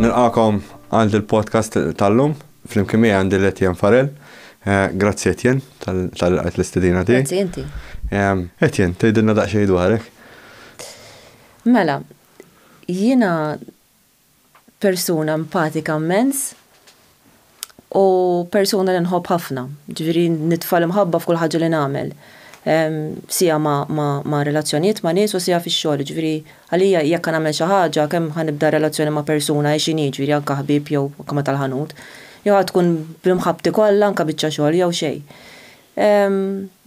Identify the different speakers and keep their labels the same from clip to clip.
Speaker 1: Nilqakom għal dil-podcast tal-lum, fl-imkien miegħi għandi l-Etienne Farel. Eh, grazzi Etienne tal-għajt l-istedina tiegħi. Grazzi inti. Etienne, tgħidilna daqsxejn dwarek. Mela, jiena persuna empatika mmens u persuna li nħobb ħafna, ġifieri nitfa' l-imħabba f'kull ħaġa li nagħmel. Sija ma' relazzjonijiet ma' nies u sija fix-xogħol, ġifieri għalija jekk nagħmel xi ħaġa kemm ħa nibda relazzjoni ma' persuna hi x'inhi, ġifieri anke ħbieb jew anke ma' tal-ħanut, jew ħa tkun b'imħabbti kollha anke biċċa xogħol jew xejn.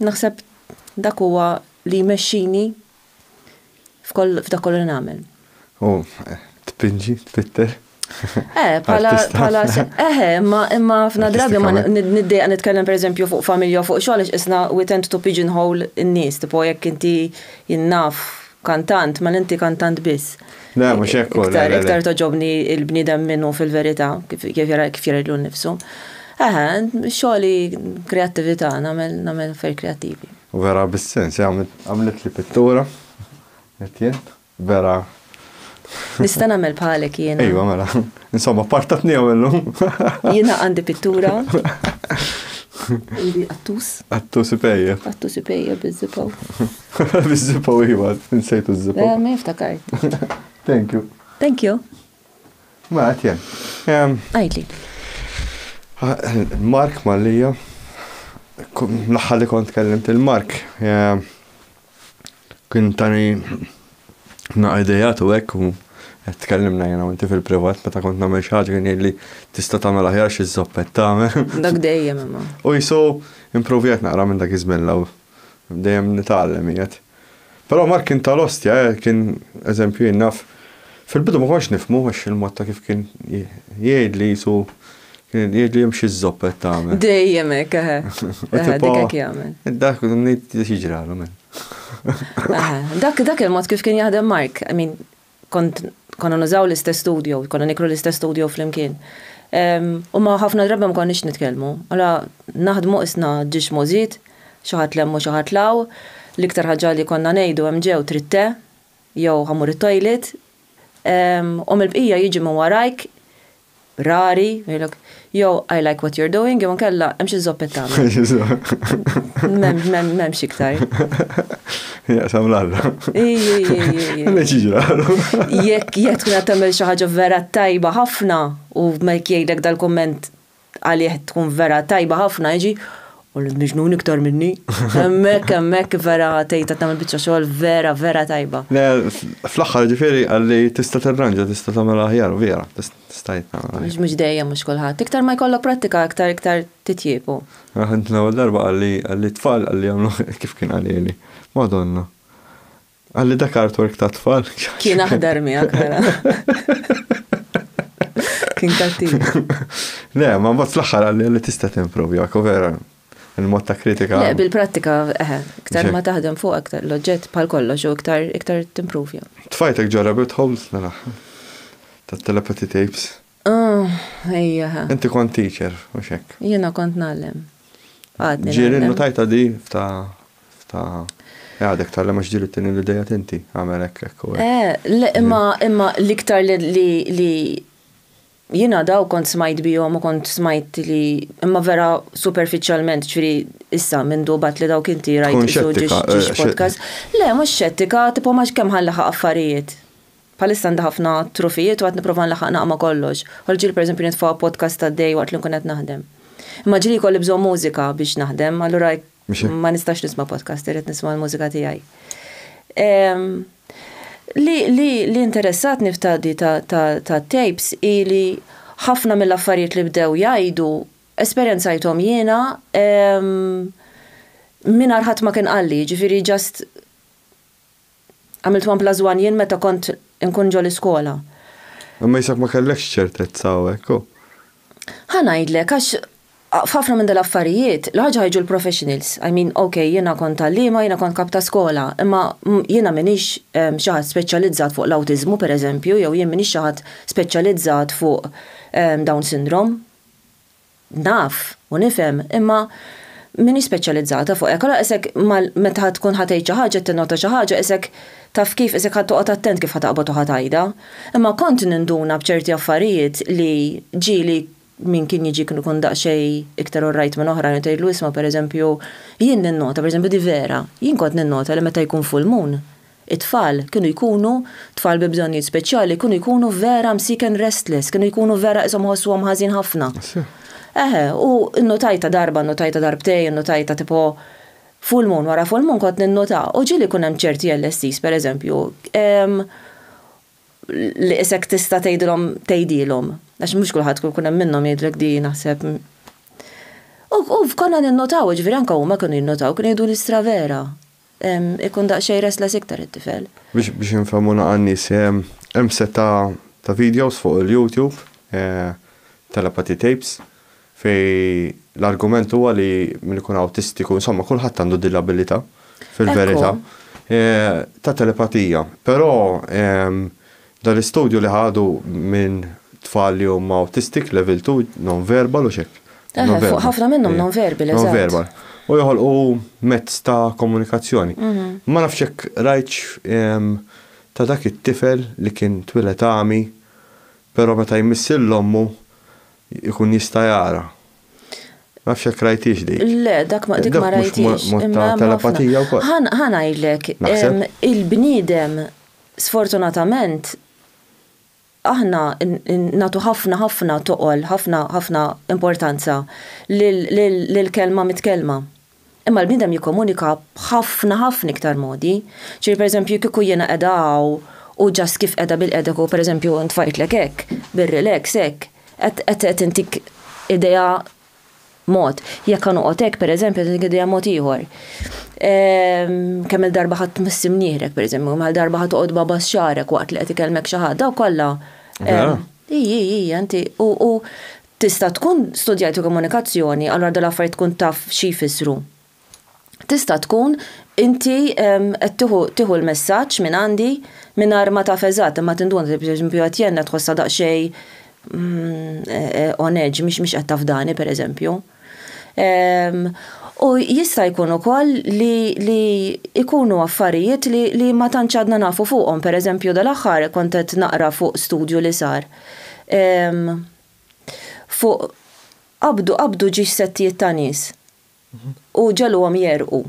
Speaker 1: Naħseb dak huwa li jmexxini. f'dak kollu li nagħmel. U tpinġi, tfitter? Eh, pala, pala, eh, imma, imma fna drabi ma niddejqa nitkellem per eżempju fuq familja fuq xogħol għax isna we tend to pigeonhole in-nies, tipo jekk inti jinnaf kantant, ma l-inti kantant biss. Le, mhux hekk Iktar, iktar toġobni il-bniedem minnu fil-verità kif jara kif jara l-nifsu. Eħe, xogħli kreattività, nagħmel nagħmel fer kreattivi. Vera bis-sens għamlitli pittura qed jien vera. Nista' nagħmel bħalek jiena. Ejwa mela. Insomma partatnihom illum. Jiena għandi pittura. Għandi qattus. Qattus ipejjeb. Qattus ipejjeb biż-żipaw. Biż-żipaw iva, nsejtu ż-żipaw. Mela, ma jiftakart. Thank you. Thank you. Mela qed jien. Għidli. Mark Mallia, l-aħħar li kont kellimt il-Mark, kien tani naqra idejat u hekk u qed tkellimna jiena u inti fil-privat meta kont nagħmel xi ħaġa kien jgħidli tista' tagħmel aħjar xi żoppett tagħmel. Dak dejjem imma. U jisu improvjat naqra minn dak iż-żmien l-ewwel. Dejjem nitgħallem qiegħed. Però Mark kien tal-ostja, eh, kien eżempju jien naf. Fil-bidu ma kontx nifhmu għax il-mod ta' kif kien jgħidli qisu kien jgħidli hemm xi żopp qed tagħmel. Dejjem hekk, eħe. Dik hekk jagħmel. Dak ngħid jiġralhom. Dak dak il-mod kif kien jaħdem Mark, I mean, Kont konna nużaw l-istess studio, konna nikru l-istess studio flimkien. U ma ħafna drabi ma konniex nitkellmu. Alla naħdmu isna ġiex możid, xi ħadd lemmu xi ħadd law, l-iktar ħaġa li konna ngħidu hemm ġew trid te, jew ħa mmur it-toilet, u mill-bqija jiġi minn warajk rari, jgħidlok, yo, I like what you're doing, jew nkella, hemm xi zoppet tagħmel. M'hemmx iktar. Ja, sam l-alla. Għamil ċiġra. Jekk jekk tkun qed tagħmel xi ħaġa vera tajba ħafna u ma jgħidlek dal-komment għalih tkun vera tajba ħafna, jiġi U l-miġnun iktar minni. Emmek, emmek, vera tejta qed tagħmel biċċa xogħol vera, vera tajba. Le, fl-aħħar ġifieri għalli tista' tirranġa, tista' tagħmel aħjar, vera, tista' jitnagħmel. Mhux mhux dejjem mhux kulħadd. Iktar ma jkollok prattika, iktar iktar titjiebu. Aħna l-ewwel darba għalli għalli tfal għalli jagħmlu kif kien qalili. Madonna. Għalli dak artwork ta' tfal. Kien aħdar miegħek mela. Kien kattiv. Le, ma mbagħad fl-aħħar għalli li tista' timprovja, vera il-mod ta' kritika. Le, bil-prattika, eħe, eh, iktar ma taħdem fuq aktar l-oġġett bħal kollox u iktar iktar timprovja. Tfajtek ġo rabbit holes nara ta' telepathy tapes. Ah, ejja. Eh. Inti kont teacher, u xek. Jena kont nallem. Ġirin, tajta di ta' Ta' għadek tal-lem għax ġiri t-tini li dejja tinti, għamel ekk ekk u ekk. Imma imma l-iktar li jina daw kont smajt bijom u kont smajt li imma vera superficialment ċfiri issa minn dubat li daw kinti rajt isu ġiġ podcast. Le, mux xettika, tipo maġ kem ħan laħa affarijiet. Palissa għanda ħafna trufijiet u għat niprofan laħa naqma kollox. Għalġil per eżempju nitfa podcast ta' dej waqt li nkun qed naħdem. Imma ġili kolli bżon mużika biex naħdem, allura Ma nistax nisma' podcast, irrid nisma' l-mużika tiegħi. Li interessatni f'tadi ta' tapes hi li ħafna mill-affarijiet li bdew jgħidu esperjenzajthom jiena mingħajr ħadd ma kien qalli, jiġifieri just Għamilt one plus one jien meta kont inkun ġo l-iskola. Imma jisek ma kellekx ċertezza hawnhekk, hu? Ħa ngħidlek, għax f'ħafna minn dal-affarijiet, l-ħaġa ħajġu l-professionals. I mean, ok, jiena kont għalliema, jiena kont kap ta' skola, imma jiena m'iniex xi ħadd speċjalizzat fuq l-awtiżmu, pereżempju, jew jien m'iniex xi ħadd speċjalizzat fuq Down syndrome. Naf u nifhem, imma m'iniex speċjalizzata fuq hekk. Allura qisek mal meta ħa tkun ħa tgħid xi ħaġa, tinnota xi ħaġa, qisek taf kif, qisek ħa toqgħod attent kif ħa taqbad u ħa tgħidha. Imma kont ninduna b'ċerti affarijiet li ġieli min kien jiġi kien ikun daqsxejn iktar all right minn oħrajn u tgħidlu isma' pereżempju, jien ninnota, pereżempju di vera, jien kont ninnota li meta jkun full moon, It-tfal kienu jkunu, tfal bi bżonnijiet speċjali jkunu jkunu vera msieken restless, kienu jkunu vera qishom iħossuhom ħażin ħafna. Eħe, u nnutajtha darba, nnutajtha darbtejn, nnutajtha tipo full moon wara full moon kont ninnuta. U ġieli jkun hemm ċerti LSEs, per eżempju, li qisek tista' tgħidilhom tgħidilhom, għax mhux kulħadd ikun hemm minnhom jgħidlek di naħseb. U konna ninnutaw, jiġifieri anke huma kienu jinnutaw, kienu jgħiduli stra vera. Ikun daqsxejn restless iktar it-tifel. Biex biex infehmuna għan-nies, hemm sett ta' ta' videos fuq il-YouTube, telepathy tapes, fejn l-argument huwa li min ikun awtistiku, insomma kulħadd għandu din l-abilità fil-verità, ta' telepatija. Però Dan l-istudju li ħadu minn tfal li huma autistic level two, non-verbal u x'hekk. Eħe, fuq ħafna minnhom non-verbal, eżatt. Non-verbal. U joħolqu mezz ta' komunikazzjoni. Ma nafx jekk rajtx ta' dak it-tifel li kien twieled għami, però meta jmiss lil ommu jkun jista' jara. Ma nafx jekk rajthiex dik. Le, dak ma dik ma rajthiex. Dak mhux mod ta' telepatija wkoll? Ħa ngħidlek, il-bniedem Sfortunatament, aħna nagħtu ħafna ħafna toqol, ħafna ħafna importanza lill-kelma mitkellma. Imma l-bniedem jikkomunika b'ħafna ħafna iktar modi. Ġifieri pereżempju kieku jiena qiegħda hawn u ġast kif qiegħda bilqiegħda kieku pereżempju ntfajtlek hekk, bir-relax hekk, qed intik idea mod. Jekk ħa noqgħod hekk pereżempju se nqiddiha mod ieħor. Ehm, kemm il-darba ħadd missi mnieħrek pereżempju, kemm il-darba ħadd toqgħod baba xarek waqt li qed ikellmek xi ħadd, daw kollha. Ehm, ija, ija, inti u tista' tkun studjajtu komunikazzjoni, allura dal-affarijiet tkun taf xi jfissru. Tista' tkun inti qed tieħu tieħu l-messaġġ minn għandi mingħajr ma taf eżatt imma tinduna li pereżempju qed jgħinna tħossha daqsxejn on edge mhix mhix qed tafdani pereżempju. U jista' jkun ukoll li li jkunu affarijiet li li ma tantx għadna nafu fuqhom. Pereżempju dal-aħħar kont qed naqra fuq studju li sar fuq qabdu qabdu ġiex settijiet ta' nies. u ġegħluhom jegħrqu.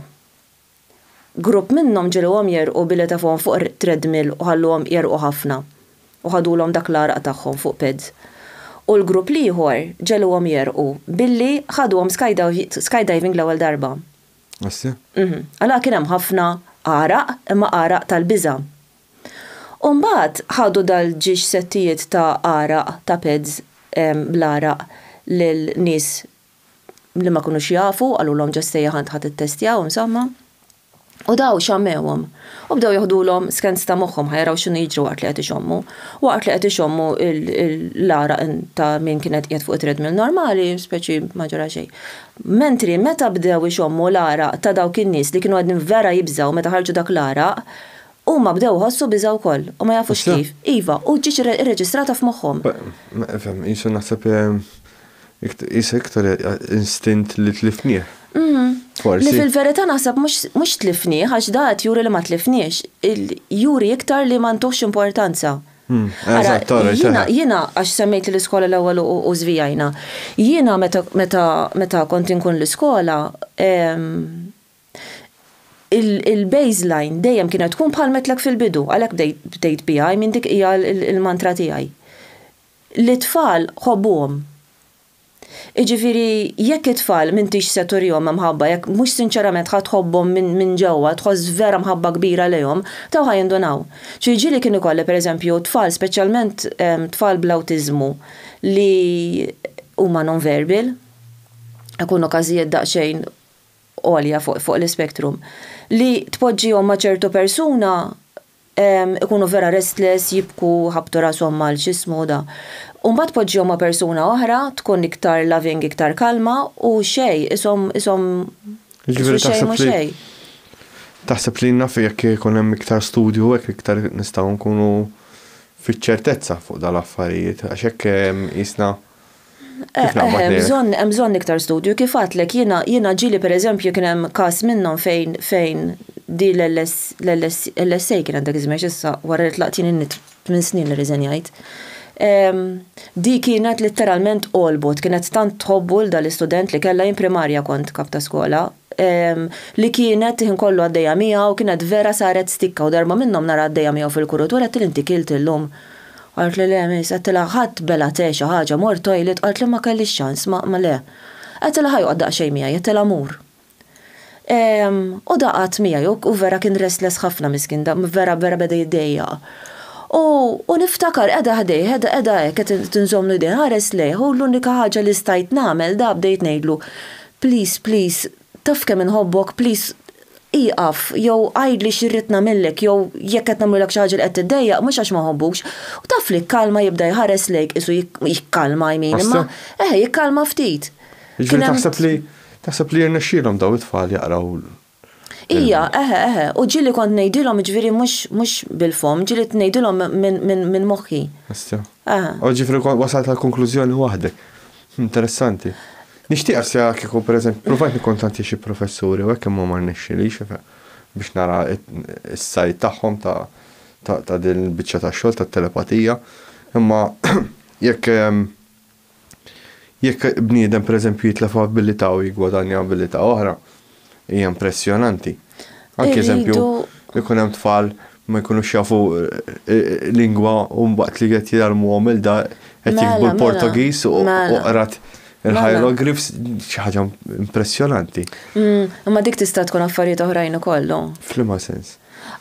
Speaker 1: Grupp minnhom ġegħluhom jegħrqu billi tefgħuhom fuq treadmill u ħalluhom jegħrqu ħafna u ħadulhom dak l-għaraq tagħhom fuq pads. U l-grupp l-ieħor ġegħluhom jegħrqu billi ħaduhom skydiving l-ewwel darba. Assi? Mhm. Allura kien hemm ħafna għaraq, imma għaraq tal-biża'. U mbagħad ħadu dal-ġiex settijiet ta' għaraq, ta' pads bl-għaraq lil nies li ma kunux jafu, qalulhom ġo s-sejjaħ għandha tittestjaw, insomma. U daw xammewhom. U bdew joħdulhom skans ta' moħħhom ħajraw x'inhu jiġri waqt li qed ixommu. Waqt li qed ixommu l-għaraq ta' min kien qed qiegħed fuq it-treadmill normali, speċi ma ġara xejn. Mentri meta bdew ixommu l-għaraq ta' dawk in-nies li kienu qegħdin vera jibżgħu meta ħarġu dak l-għaraq, huma bdew iħossu biża' wkoll u ma jafux kif. Iva, u ġietx irreġistrata f'moħħhom. Qisu naħseb Qisha iktar instint li tlifnieh, forsi. Li fil-verità naħseb mhux tlifnieh għax dan qed juri li ma tlifniex, juri iktar li ma ntuhx importanza. Ara, jiena għax semmejt li l-iskola l-ewwel u żvijajna. Jiena meta kont inkun l-iskola, il-baseline dejjem kienet tkun bħal għedtlek fil-bidu, għalhekk bdejt biha, I mean dik hija l-mantra tiegħi. li t-tfal ħobbuhom. Jiġifieri jekk it-tfal m'intix se turihom imħabba, jekk mhux sinċerament ħa tħobbhom minn ġewwa, tħoss vera mħabba kbira lejhom, dawn ħa jindunaw. Xi ġieli kien ikolli pereżempju tfal speċjalment tfal bl-awtiżmu li huma non-verbal, ikunu każijiet daqsxejn għolja fuq l-ispectrum, li tpoġġihom ma' ċertu persuna ikunu vera restless, jibku, jħabbtu rashom mal x'ismuda. U mbagħad poġġihom ma' persuna oħra, tkun iktar loving, iktar kalma, u xejn, qishom, qishom, qisu xejn mhu xejn. Taħseb li naf jekk ikun hemm iktar studju u hekk iktar nistgħu nkunu fiċ-ċertezza fuq dawn l-affarijiet, għax hekk qisna. Hemm bżonn iktar studju. Kif għadtlek jiena ġieli pereżempju kien hemm każ minnhom fejn fejn di l-LSA kienet dak iż-żmien x'issa wara li tlaqt jien tmien snin li riżenjajt. Di kienet litteralment għolbot, kienet tant tħobbu 'l dan l-istudent li kellha jien primarja kont kap ta' skola, li kienet il-ħin kollu għaddejja miegħu, kienet vera saret stikka u darba minnhom nara għaddejja miegħu fil-kurutur għedtilha inti kilt illum? Qalt li le miss, għedtilha ħadt bela te xi ħaġa, mort toilet qalt li ma kellix ċans, ma ma le. Għedtilha ħa joqgħod daqsxejn miegħi, għedtilha mur. Ehm, u da qagħad miegħi u u vera kien restless ħafna miskien da vera vera beda jiddejjaq. U u niftakar qegħda ħdejh, qegħda qegħda hekk qed qed inżommlu jdejh, inħares lejh u l-unika ħaġa li stajt nagħmel da bdejt ngħidlu, please please Taf kemm inħobbok please ieqaf jew għidli xi rrid nagħmillek jew jekk qed nagħmlulek xi ħaġa li qed tiddejjaq mhux għax ma nħobbukx. U taf li kkalma jibda jħares lejk qisu jikkalma I mean imma eħe jikkalma ftit. Jiġifieri taħseb li taħseb li jirnexxielhom dawn it-tfal jaqraw l. Ija eħe eħe u ġieli kont ngħidilhom jiġifieri mhux mhux bil-fomm ġieli ngħidilhom minn minn minn moħħi. Issa. Eħe. U jiġifieri wasalt għal konklużjoni waħdek. Interessanti. Nixtieqha se kieku pereżempju ppruvajt nikkuntattja xi professuri u hekk imma ma rnexxilix biex nara s-sajd tagħhom ta' din il-biċċa ta' xogħol tat-telepatija. Imma jekk jekk bniedem pereżempju jitlef abilità u jiggwadanja abilità oħra, Hija impressjonanti. Anki eżempju, ikun hemm tfal ma jkunux jafu lingwa u mbaqt li qed jgħalmuhom il-da qed mela, jikbu mela. l-Portugiż u mela. qrat il-hieroglyphs xi ħaġa impressjonanti. Mm, imma dik tista' tkun affarijiet oħrajn ukoll. Flima sens.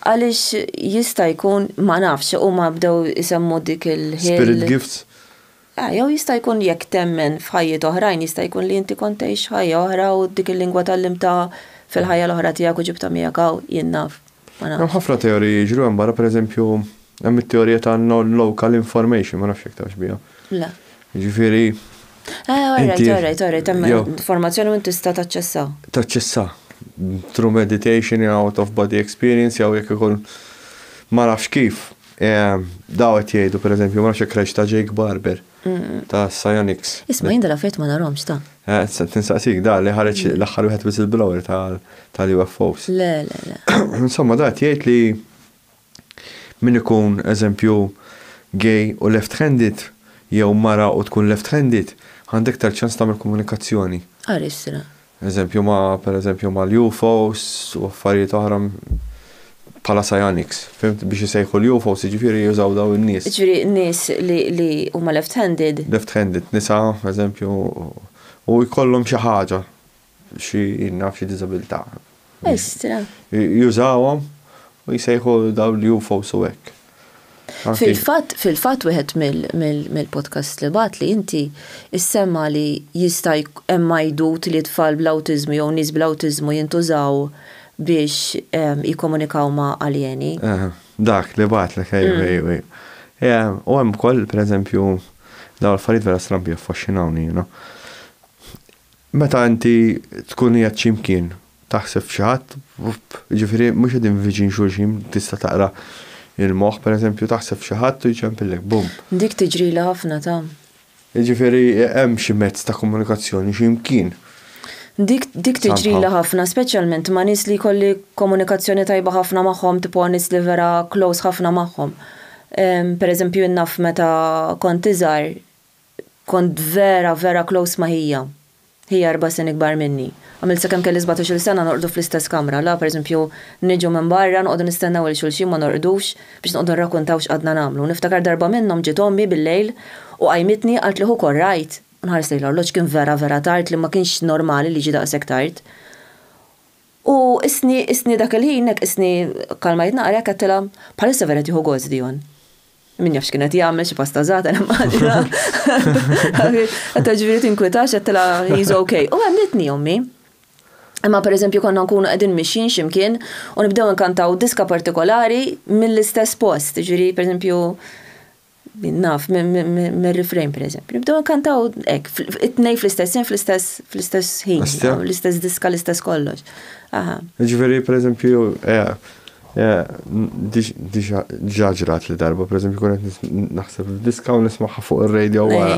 Speaker 1: Għaliex jista' jkun ma nafx huma bdew isemmu dik il-ħil. Spirit gifts. A, jew jista' jkun jekk temmen f'ħajjiet oħrajn jista' jkun li inti kont tgħix ħajja oħra u dik il-lingwa tgħallimtha fil-ħajja l-oħra tiegħek u ġibtha miegħek hawn, jien naf. Ma nafx. Hemm ħafna teoriji jiġru hemm barra, pereżempju hemm it-teorija ta' non-local information, ma nafx jekk tafx biha. Le. Jiġifieri. A, orajt, orajt, orajt, hemm informazzjoni u inti tista' taċċessha. Taċċessha. Through meditation, out of body experience jew jekk ikun ma nafx kif. Daw qed jgħidu pereżempju ma nafx jekk rajtx ta' Jake Barber ta' Psionics. Isma' jien dal-affarijiet ma narahomx ta'. Tinsaqsik da li ħareġ l-aħħar wieħed whistleblower tal-UFOs. Le, le, le. Insomma da qed jgħid li min ikun eżempju gay u left-handed jew mara u tkun left-handed għandha iktar ċans tagħmel komunikazzjoni. Ara x'sra. Eżempju ma' per eżempju mal-UFOs u affarijiet oħra bħala psionics. Fimt? Biex isejħu l-UFOs jiġifieri jużaw dawn in-nies. Jiġifieri nies li huma left handed. Left handed, nisa eżempju u jkollhom xi ħaġa, xi naf xi diżabilità. Estra. Jużawhom u jsejħu dawn l-UFOs u hekk. Fil-fatt, fil-fatt wieħed mill-podcasts li bagħatli inti issemma li jista' hemm għajdut li tfal bl-awtiżmu jew nies bl-awtiżmu jintużaw biex jikkomunikaw ma' aljeni. Dak li bagħatlek, ejw, ejw, ejw. U hemm ukoll, pereżempju, dawn l-affarijiet vera strambi jaffaxxinawni jiena. Meta inti tkun qiegħed xi mkien, taħseb f'xi ħadd, jiġifieri mhux qegħdin viċin xulxin, tista' taqra l-moħħ, pereżempju taħseb f'xi ħadd u jċempillek, bum. Dik tiġrili ħafna, ta. Jiġifieri hemm xi mezz ta' komunikazzjoni xi mkien. Dik, dik tiġrili ħafna, speċjalment ma' nies li jkolli komunikazzjoni tajba ħafna magħhom, tipo nies li vera close ħafna magħhom. Pereżempju jien naf meta kont iżgħar, Kont vera, vera close ma' ħija. Ħija erba' snin ikbar minni. Għamilt sakemm kelli sbatax-il sena norqdu fl-istess kamra, la, pereżempju, niġu minn barra, noqogħdu nistennew lil xulxin ma norqdux biex noqogħdu nrakuntaw x'qgħadna nagħmlu. Niftakar darba minnhom ġiet ommi bil-lejl u qajmitni, qaltli ħu kor rajt? Nħares lejn l-orloġġ, kien vera, vera tard li ma kienx normali li jiġi daqshekk tard. U qisni, qisni dak il-ħin hekk qisni kkalmajt naqra hekk għedtilha, bħalissa vera qed jieħu gost Dion. Min jaf x'kien qed jagħmel xi pasta żgħata nimmaġina. Qed ġifieri tinkwitax għedtilha he's okay. U għemlitni ommi. Imma pereżempju konna nkunu qegħdin mixjin x'imkien u nibdew nkantaw diska partikolari mill-istess post, ġifieri pereżempju Min naf, mir-refrain per eżempju. Nibdew nkantaw hekk, it-tnej fl-istess jien fl-istess ħin, l-istess diska, l-istess kollox. Aha. Ġifieri per eżempju, diġà ġrat li darba, per eżempju, kun qed naħseb diska u nismaħħa fuq ir-radio wara.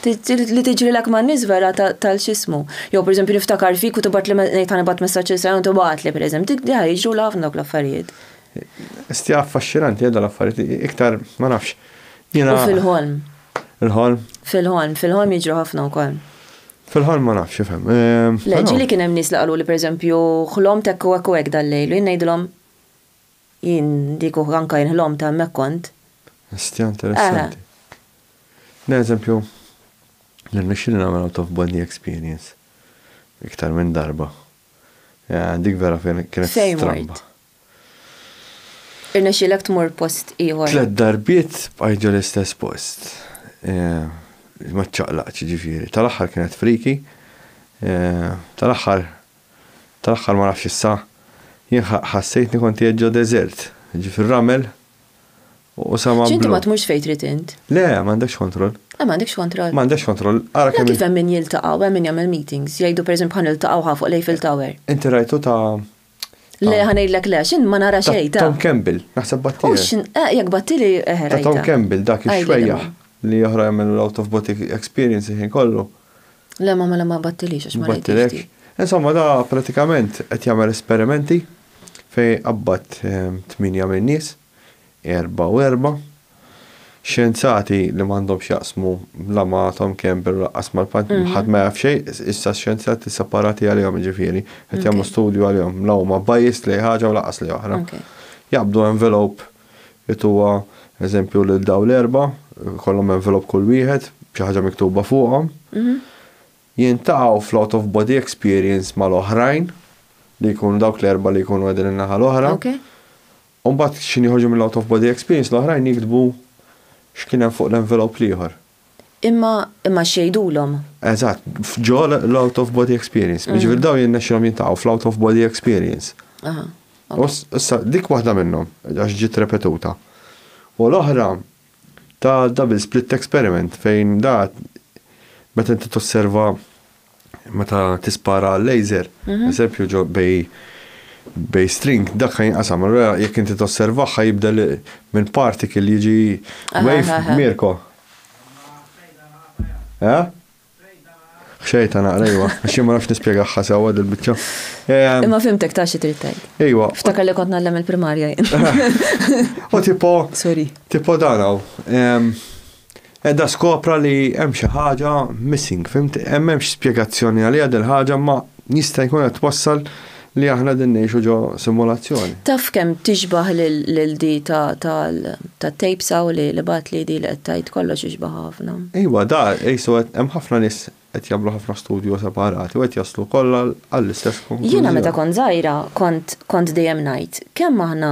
Speaker 1: Li tiġri l-ak ma' nies vera tal-xismu. Jew per eżempju niftakar fik u tibgħat li ngħid ħanibgħat messaġġ il-sajn u tibgħat li per eżempju, jiġru l-ħafna dawk l-affarijiet. Stja affaxxinanti għedha l-affarijiet, iktar ma nafx. U fil-ħolm. Il-ħolm? Fil-ħolm, fil-ħolm jiġru ħafna wkoll. Fil-ħolm ma nafx ifhem. Ehm, Le, ġili kien hemm nies li qalu li pereżempju ħlom tekku hekk u hekk dal-lejl, u jien ngħidilhom jien dik anka jien ħlom ta' hemmhekk kont. Stja interessanti. Ne, eżempju, nirnexxili nagħmel out of body experience iktar minn darba. Eh, dik vera kienet stramba. Irnexxielek tmur post ieħor? Tliet darbiet bqajt ġo l-istess post. Ma ċċaqlaqtx jiġifieri. Tal-aħħar kienet friki. Tal-aħħar tal-aħħar ma nafx issa jien ħassejtni kont qiegħed ġo deżert, ġie fir-ramel u sama. X'inti ma tmurx fejn trid int? Le, m'għandekx kontroll. Le m'għandekx kontroll. M'għandekx kontroll. Ara kemm. Kif hemm min jiltaqgħu, hemm min jagħmel meetings, jgħidu pereżempju ħa niltaqgħu ħa fuq l-Eiffel Tower. Inti rajtu ta' Le ah. ħanejdlek le, xin ma nara xejn ta'. Tom Campbell, naħseb battili. X'in eh, jekk battili eħra. Eh, ta' Tom Campbell dak ix-xwejja li oħra jagħmlu l-out of body experience ħin kollu. Le ma mela ma battilix għax ma battilek. Insomma da pratikament qed jagħmel esperimenti fej qabbat ehm, tminja minn nies erba' u erba', Xjenzati li m'għandhom x'jaqsmu la ma' Tom Campbell u lanqas mal ħadd ma jaf xejn, issa xjenzati separati għalihom jiġifieri, qed jagħmlu studju għalihom, la huma biased lejn ħaġa u lanqas lejn oħra. Jaqbdu envelope, jtuha eżempju lil dawn l-erba', ikollhom envelope kull wieħed, b'xi ħaġa miktuba fuqhom, jiltaqgħu fl-out of body experience mal-oħrajn, li jkunu dawk l-erba' li jkunu qegħdin in-naħa l-oħra, U mbagħad x'inhi joħorġu mill-out of body experience l-oħrajn jiktbu x'kien hemm fuq l-envelope l-ieħor. Imma, imma x'jgħidulhom? Eżatt, ġo l-out of body experience. Jiġifieri dawn jirnexxilhom jiltaqgħu fl-out of body experience. Aha. U issa dik waħda minnhom għax ġiet repetuta. U l-oħra ta' double split experiment fejn da meta inti tosserva meta tispara laser, mhm. eżempju ġo bej bej string dak jinqasam. Allura jekk inti tosservaħ jibdel minn particle jiġi wave Mirko. Eh? Xejta naqra jwa, xi ma nafx nispjegaħħa sewwa dil-biċċa. Ehm, Imma fimtek ta' xi trid tgħid. Ejwa. Ftakar li kont nagħlem il-primarja jien. U tipo. Sorry. Tipo dan hawn. Ehm, Qiegħda skopra li hemm xi ħaġa missing, fimt? Hemm m'hemmx spjegazzjoni għaliha dil-ħaġa imma jista' jkun qed twassal li aħna qegħdin ngħixu ġo simulazzjoni. Taf kemm tixbah lil di ta' tapes hawn li bagħatli di li qed tgħid kollox ixbahha ħafna. Iwa da qisu qed hemm ħafna nies qed jagħmlu ħafna studju separati u qed jaslu kollha għall-istess konklużjoni. Jiena meta kont żgħira kont kont dejjem ngħid kemm aħna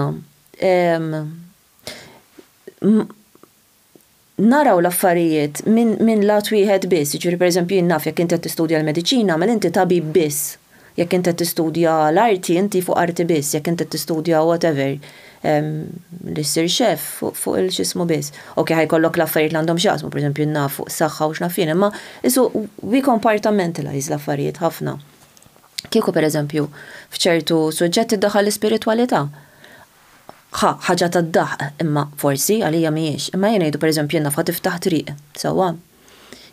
Speaker 1: naraw l-affarijiet minn minn lat wieħed biss, jiġifieri pereżempju jien naf jekk inti qed tistudja l-mediċina mela inti tabib biss, jekk inti qed tistudja l-arti inti fuq arti biss, jekk inti qed tistudja whatever li ssir chef fuq il-x'ismu biss. Ok ħa jkollok l-affarijiet li għandhom x'jaqsmu pereżempju jien naf fuq is-saħħa u x'naf jien imma qisu we compartmentalize l-affarijiet ħafna. Kieku pereżempju f'ċertu suġġetti ddaħħal l-ispiritwalità, Ħa, ħaġa tad-daħq, imma, forsi, għalija mhijiex. Imma ejja ngħidu, pereżempju, in-nafqa tiftaħ triq, sewwa?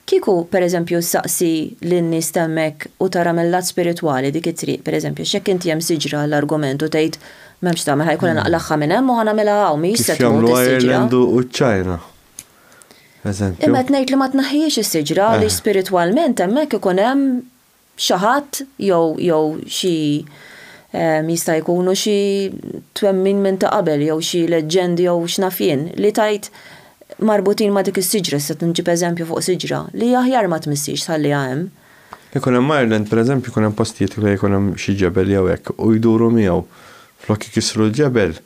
Speaker 1: Kieku, pereżempju, ssaqsi lin-nies t'hemmhekk u tara mill-lat spiritwali dik it-triq, pereżempju, għax jekk inti hemm siġra għall-argument u tgħid, M'hemmx tagħmel, ħa jkun qed naqlagħha minn hemm u ħa nagħmilha hawn, mhijiex se tmut is-siġra. Kif jagħmlu Ireland u ċ-Ċina, eżempju. Imma qed ngħid li ma tneħħihiex is-siġra għaliex spiritwalment hemmhekk ikun hemm xi ħadd jew jew xi jista' jkunu xi twemmin minn ta' qabel jew xi leġġendi jew x'naf jien li tgħid marbutin ma' dik is-siġra, issa qed nġib eżempju fuq siġra, li aħjar ma tmissiex tħalliha hemm. Ikun hemm Ireland pereżempju jkun hemm postijiet fejn ikun hemm xi ġebel jew hekk u jduru miegħu flok ikissru l-ġebel,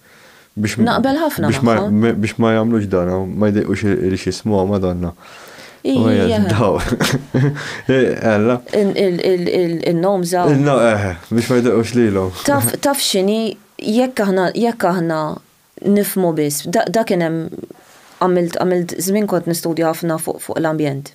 Speaker 1: Biex Naqbel ħafna biex ma, magħhom. me- biex ma jagħmlux dan, u ma jdejqux il- il xismuha Madonna. U Ija, hija daw. Eh, Alla. il- il- il- il- il-nom żaw. No, eh, biex ma jdejqux lilhom. Taf, taf x'inhi, jekk aħna, jekk aħna nifhmu biss, da, da kien hemm, għamilt, għamilt, żmien kont nistudja ħafna fuq, fuq l-ambjent.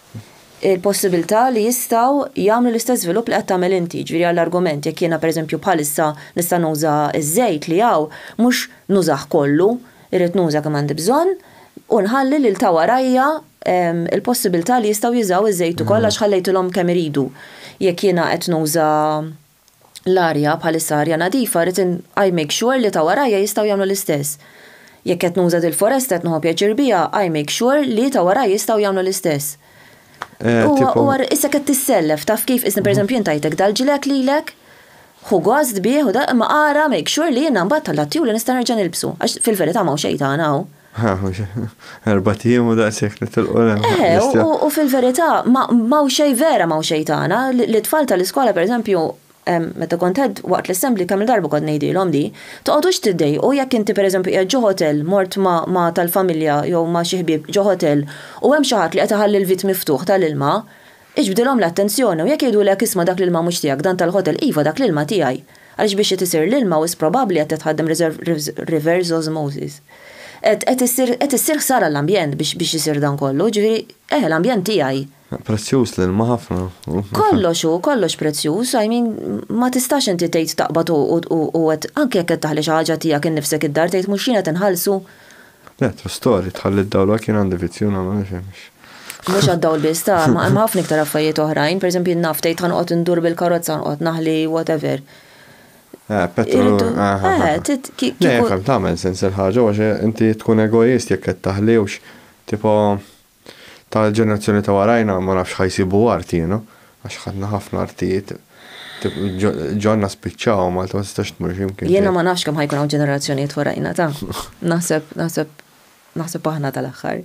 Speaker 1: il-possibilità li jistgħu jagħmlu l-istess żvilupp li qed tagħmel inti, jiġifieri għall-argument jekk jiena pereżempju bħalissa nista' nuża ż-żejt li hawn, mhux nużah kollu, irrid nuża kemm għandi bżonn u nħalli lil ta' warajja l-possibilità li jistgħu jużaw iż-żejt ukoll għax ħallejtilhom kemm iridu jekk jiena qed nuża l-arja bħalissa arja nadifa rrid I make sure li ta' warajja jistgħu jagħmlu l-istess. Jekk qed nuża dil-foresta qed nieħu pjaċir biha I make sure li ta' warajja jistgħu jagħmlu l-istess. Huwa huwa issa qed tissellef taf kif isni pereżempju jien tajtek dal-ġilek lilek ħu gost bih u da imma ara make sure li jiena mbagħad tallgħat tiegħu li nista' nerġa' nilbsu għax fil-verità m'hawn xejn tagħna hawn. Erbat ijiem u daqshekk nitilqu l-hemm. Eħe, u fil-verità m'hawn xejn vera m'hawn xejn tagħna, lit-tfal tal-iskola pereżempju, meta kont qed waqt l-assembly kemm-il darba kont ngħidilhom di, toqgħodux tiddejqu jekk inti pereżempju qiegħed ġo hotel, mort ma' tal-familja jew ma' xi ħbieb ġo hotel u hemm xi ħadd li qed iħalli l-vit miftuħ tal-ilma, Iġbdilhom l-attenzjoni u jekk jgħidulek isma' dak l-ilma mhux tiegħek dan tal-ħotel iva dak l-ilma tiegħi. Għaliex biex qed isir l-ilma wisq probabbli qed tħaddem reverse osmosis. Qed qed issir qed issir ħsara l-ambjent biex biex isir dan kollu, jiġifieri eh l-ambjent tiegħi. Prezzjuż l-ilma ħafna u. Kollox hu, kollox prezzjuż, I mean ma tistax inti tgħid taqbad u u u qed anke jekk qed taħli xi ħaġa tiegħek innifsek id-dar tgħid mhux jien qed inħallsu Le, ta' story, tħalli d-dawla kien għandi vizzju nagħmel ma nifhimx. Mhux għad-dawl biss, ta' ma hemm ħafna iktar affarijiet oħrajn, pereżempju naf tgħid ħanqgħod indur bil-karozza nqgħod naħli whatever. Eh, petrol. Irridu- ah, ah, ah. eh, tit- ki- Le, kieku- fem tagħmel sens il-ħaġa għax inti tkun egoist jekk qed taħliewx. Tipo, Ta' l-ġenerazzjoni ta' warajna ma nafx ħa jsibu art jiena, għax ħadna ħafna artijiet, ġonna spiċċaw, Malta ma tistax tmur xi mkien. Jiena ma nafx kemm ħa jkun hawn ġenerazzjonijiet warajna ta'. Naħseb, naħseb, naħseb aħna ta' l-aħħar.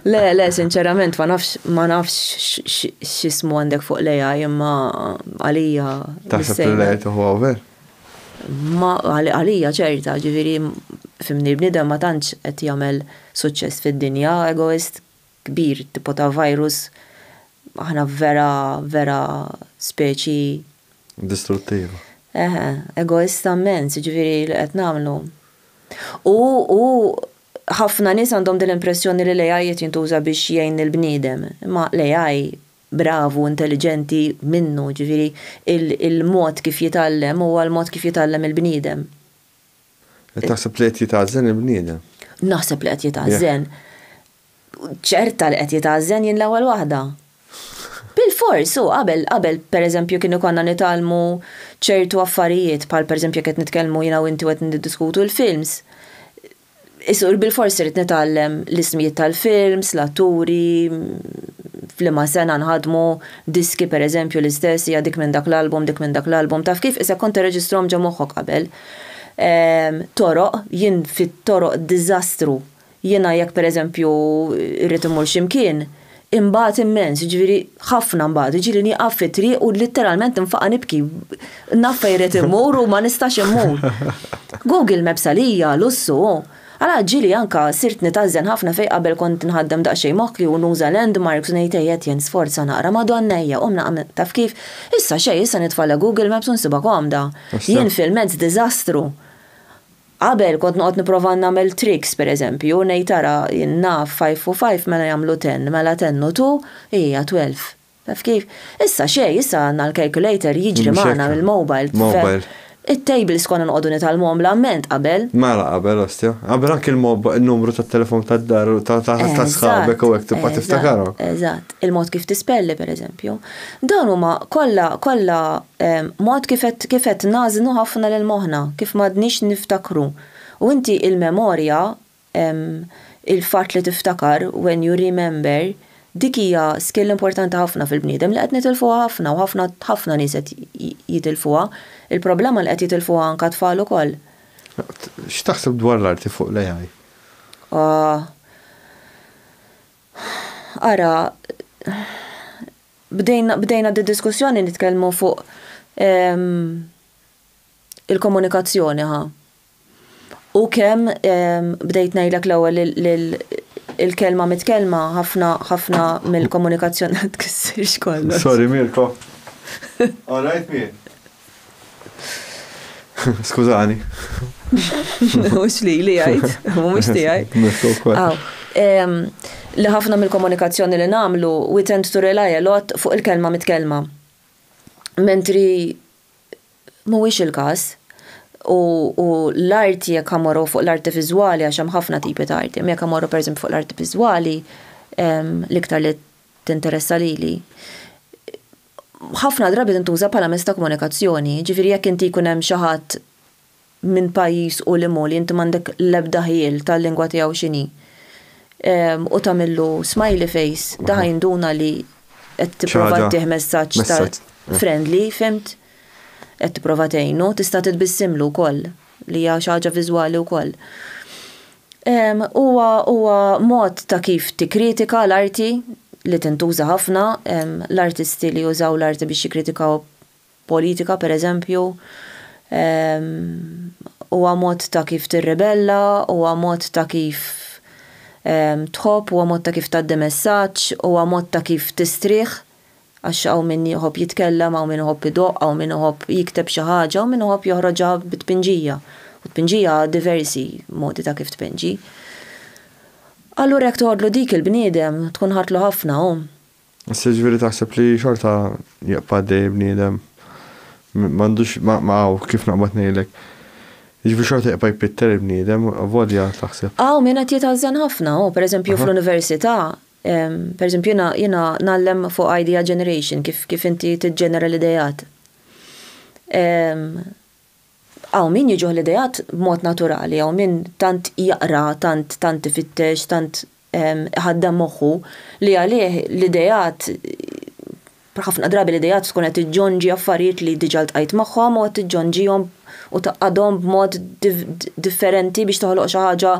Speaker 1: Le, le, sinċerament ma nafx, ma nafx x'ismu għandek fuq l-AI imma għalija. Taħseb li l-AI tieħu hawn vera? Ma għalija ċerta, ġifieri fimni l-bniedem ma tantx qed jagħmel suċċess fid-dinja, egoist kbir tipo ta' virus aħna vera vera speċi. Distruttiva. Eħe, egoista mmens, ġifieri li qed nagħmlu. U u ħafna nies għandhom din l-impressjoni li l-AI qed jintuża biex jgħin lill-bniedem, imma l-AI bravu, intelliġenti, minnu, jiġifieri il-mod kif jitgħallem huwa l-mod kif jitgħallem il-bniedem. Qed taħseb li qed jitgħażżen il-bniedem? Naħseb li qed jitgħażżen. Ċerta li qed jitgħażżen jien l-ewwel waħda. Bilfors, hu qabel, qabel pereżempju kienu konna nitgħallmu ċertu affarijiet bħal pereżempju jekk qed nitkellmu jiena u inti u qed niddiskutu l-films, Isur bilfors irid nitgħallem l-ismijiet tal-films, l-atturi, f'liema sena nħadmu, diski pereżempju l-istess, hija dik minn dak l-album, dik minn dak l-album, taf kif, isek kont tirreġistrahom ġo moħħok qabel. Toroq, jien fit-toroq diżastru. Jiena jekk pereżempju rrid immur xi mkien, Inbagħad immens, jiġifieri ħafna nbagħad, jiġieli nieqaf fit-triq u litteralment nfaqa' nibki. Naf fejn rrid immur u ma nistax immur. Google Maps għalija lussu hu. Allura ġieli anke sirt nitgħażżen ħafna fejn qabel kont nħaddem daqsxejn moħħi u nuża landmarks u ngħid ejja Etienne sforza naqra, Madonna ejja qum naqra, taf kif? Issa xejn, issa nitfagħla Google Maps u nsibha komda. Jien fil-mezz diżastru. Qabel kont noqgħod nipprova nagħmel tricks pereżempju u ngħid ara jien naf five u five mela jagħmlu ten, mela ten u two hija twelve. Taf kif? Issa xejn, issa għandna l-calculator jiġri magħna mill-mobile. Mobile. It-tables konna noqogħdu nitgħallmuhom l-amment qabel. Mela qabel ostja. Qabel anke n-numru tat-telefon tad-dar u ta' sħabek u hekk tibqa' tiftakarhom. Eżatt. Il-mod kif tispelli pereżempju. Dawn huma kollha kollha Mod kif qed kif qed nagħżnu ħafna lil moħħna, kif m'għadniex niftakru. U inti il-memorja, il-fatt li tiftakar, when you remember, dik hija skill importanti ħafna fil-bniedem li qed nitilfuha ħafna u ħafna ħafna nies qed jitilfuha. Il-problema li qed jitilfuha anka t-tfal ukoll. X'taħseb dwar l-arti fuq l-AI? Ohh. Ara, bdejna, bdejna d-diskussjoni nitkellmu fuq il-komunikazzjoni ħa. U kemm bdejt ngħidlek l-ewwel il-kelma mitkellma ħafna ħafna mill-komunikazzjoni tkissirx kollox. Sorry Mirko. All right Mir. Skużani. Mhux li li jgħid, mhux tiegħi. Li ħafna mill-komunikazzjoni li nagħmlu, we tend to rely a lot fuq il-kelma mitkellma. Mentri mhuwiex il-każ. U l-arti jekk ħa mmorru fuq l-arti viżwali għax hemm ħafna tipi ta' arti, imma jekk ħa mmorru pereżempju fuq l-arti viżwali, l-iktar li tinteressa lili, ħafna drabi tintuża bħala mezz ta' komunikazzjoni. Jiġifieri jekk inti jkun hemm xi ħadd minn pajjiż u lil u li inti m'għandek l-ebda ħjiel tal-lingwa tiegħu x'inhi u tagħmillu smiley face, da' ħa jinduna li qed tipprova ttih messaġġ ta' friendly, fhimt? Qed tipprova tgħinu. Tista' titbissimlu wkoll. li hija xi ħaġa viżwali wkoll. Huwa huwa mod ta' kif tikkritika l-arti li tintuża ħafna, l-artisti li jużaw l-arti biex jikkritikaw politika pereżempju, huwa mod ta' kif tirribella, huwa mod ta' kif tħobb, huwa mod ta' kif tgħaddi messaġġ, huwa mod ta' kif tistrieħ Għax hawn min iħobb jitkellem, hawn min iħobb idoqq, hawn min iħobb jikteb xi ħaġa, hawn min iħobb joħroġha bi tpinġija. U tpinġija għad diversi modi ta' kif tpinġi. Allura jekk toħodlu dik il-bniedem, tkun ħadtlu ħafna, hu. Issa jiġifieri taħseb li xorta jibqa' għaddej bniedem? M'għandux, ma hawn kif naqbad ngħidlek. Jiġifieri xorta jibqa' jpitter il-bniedem, avolja taħseb. Hawn min qed jitgħażżen ħafna, hu. Per eżempju fl-università, Pereżempju, jiena ngħallem fuq idea generation, kif inti tiġġenera l-ideat. Hawn min jiġuh l-ideat b'mod naturali, hawn min tant jaqra, tant tant ifittex, tant iħaddem moħħu li għalih l-ideat, ħafna drabi l-ideat tkun qed iġġonġi affarijiet li diġà ltqajt magħhom u qed tiġġonġihom u tgħaqqadhom b'mod differenti biex toħloq xi ħaġa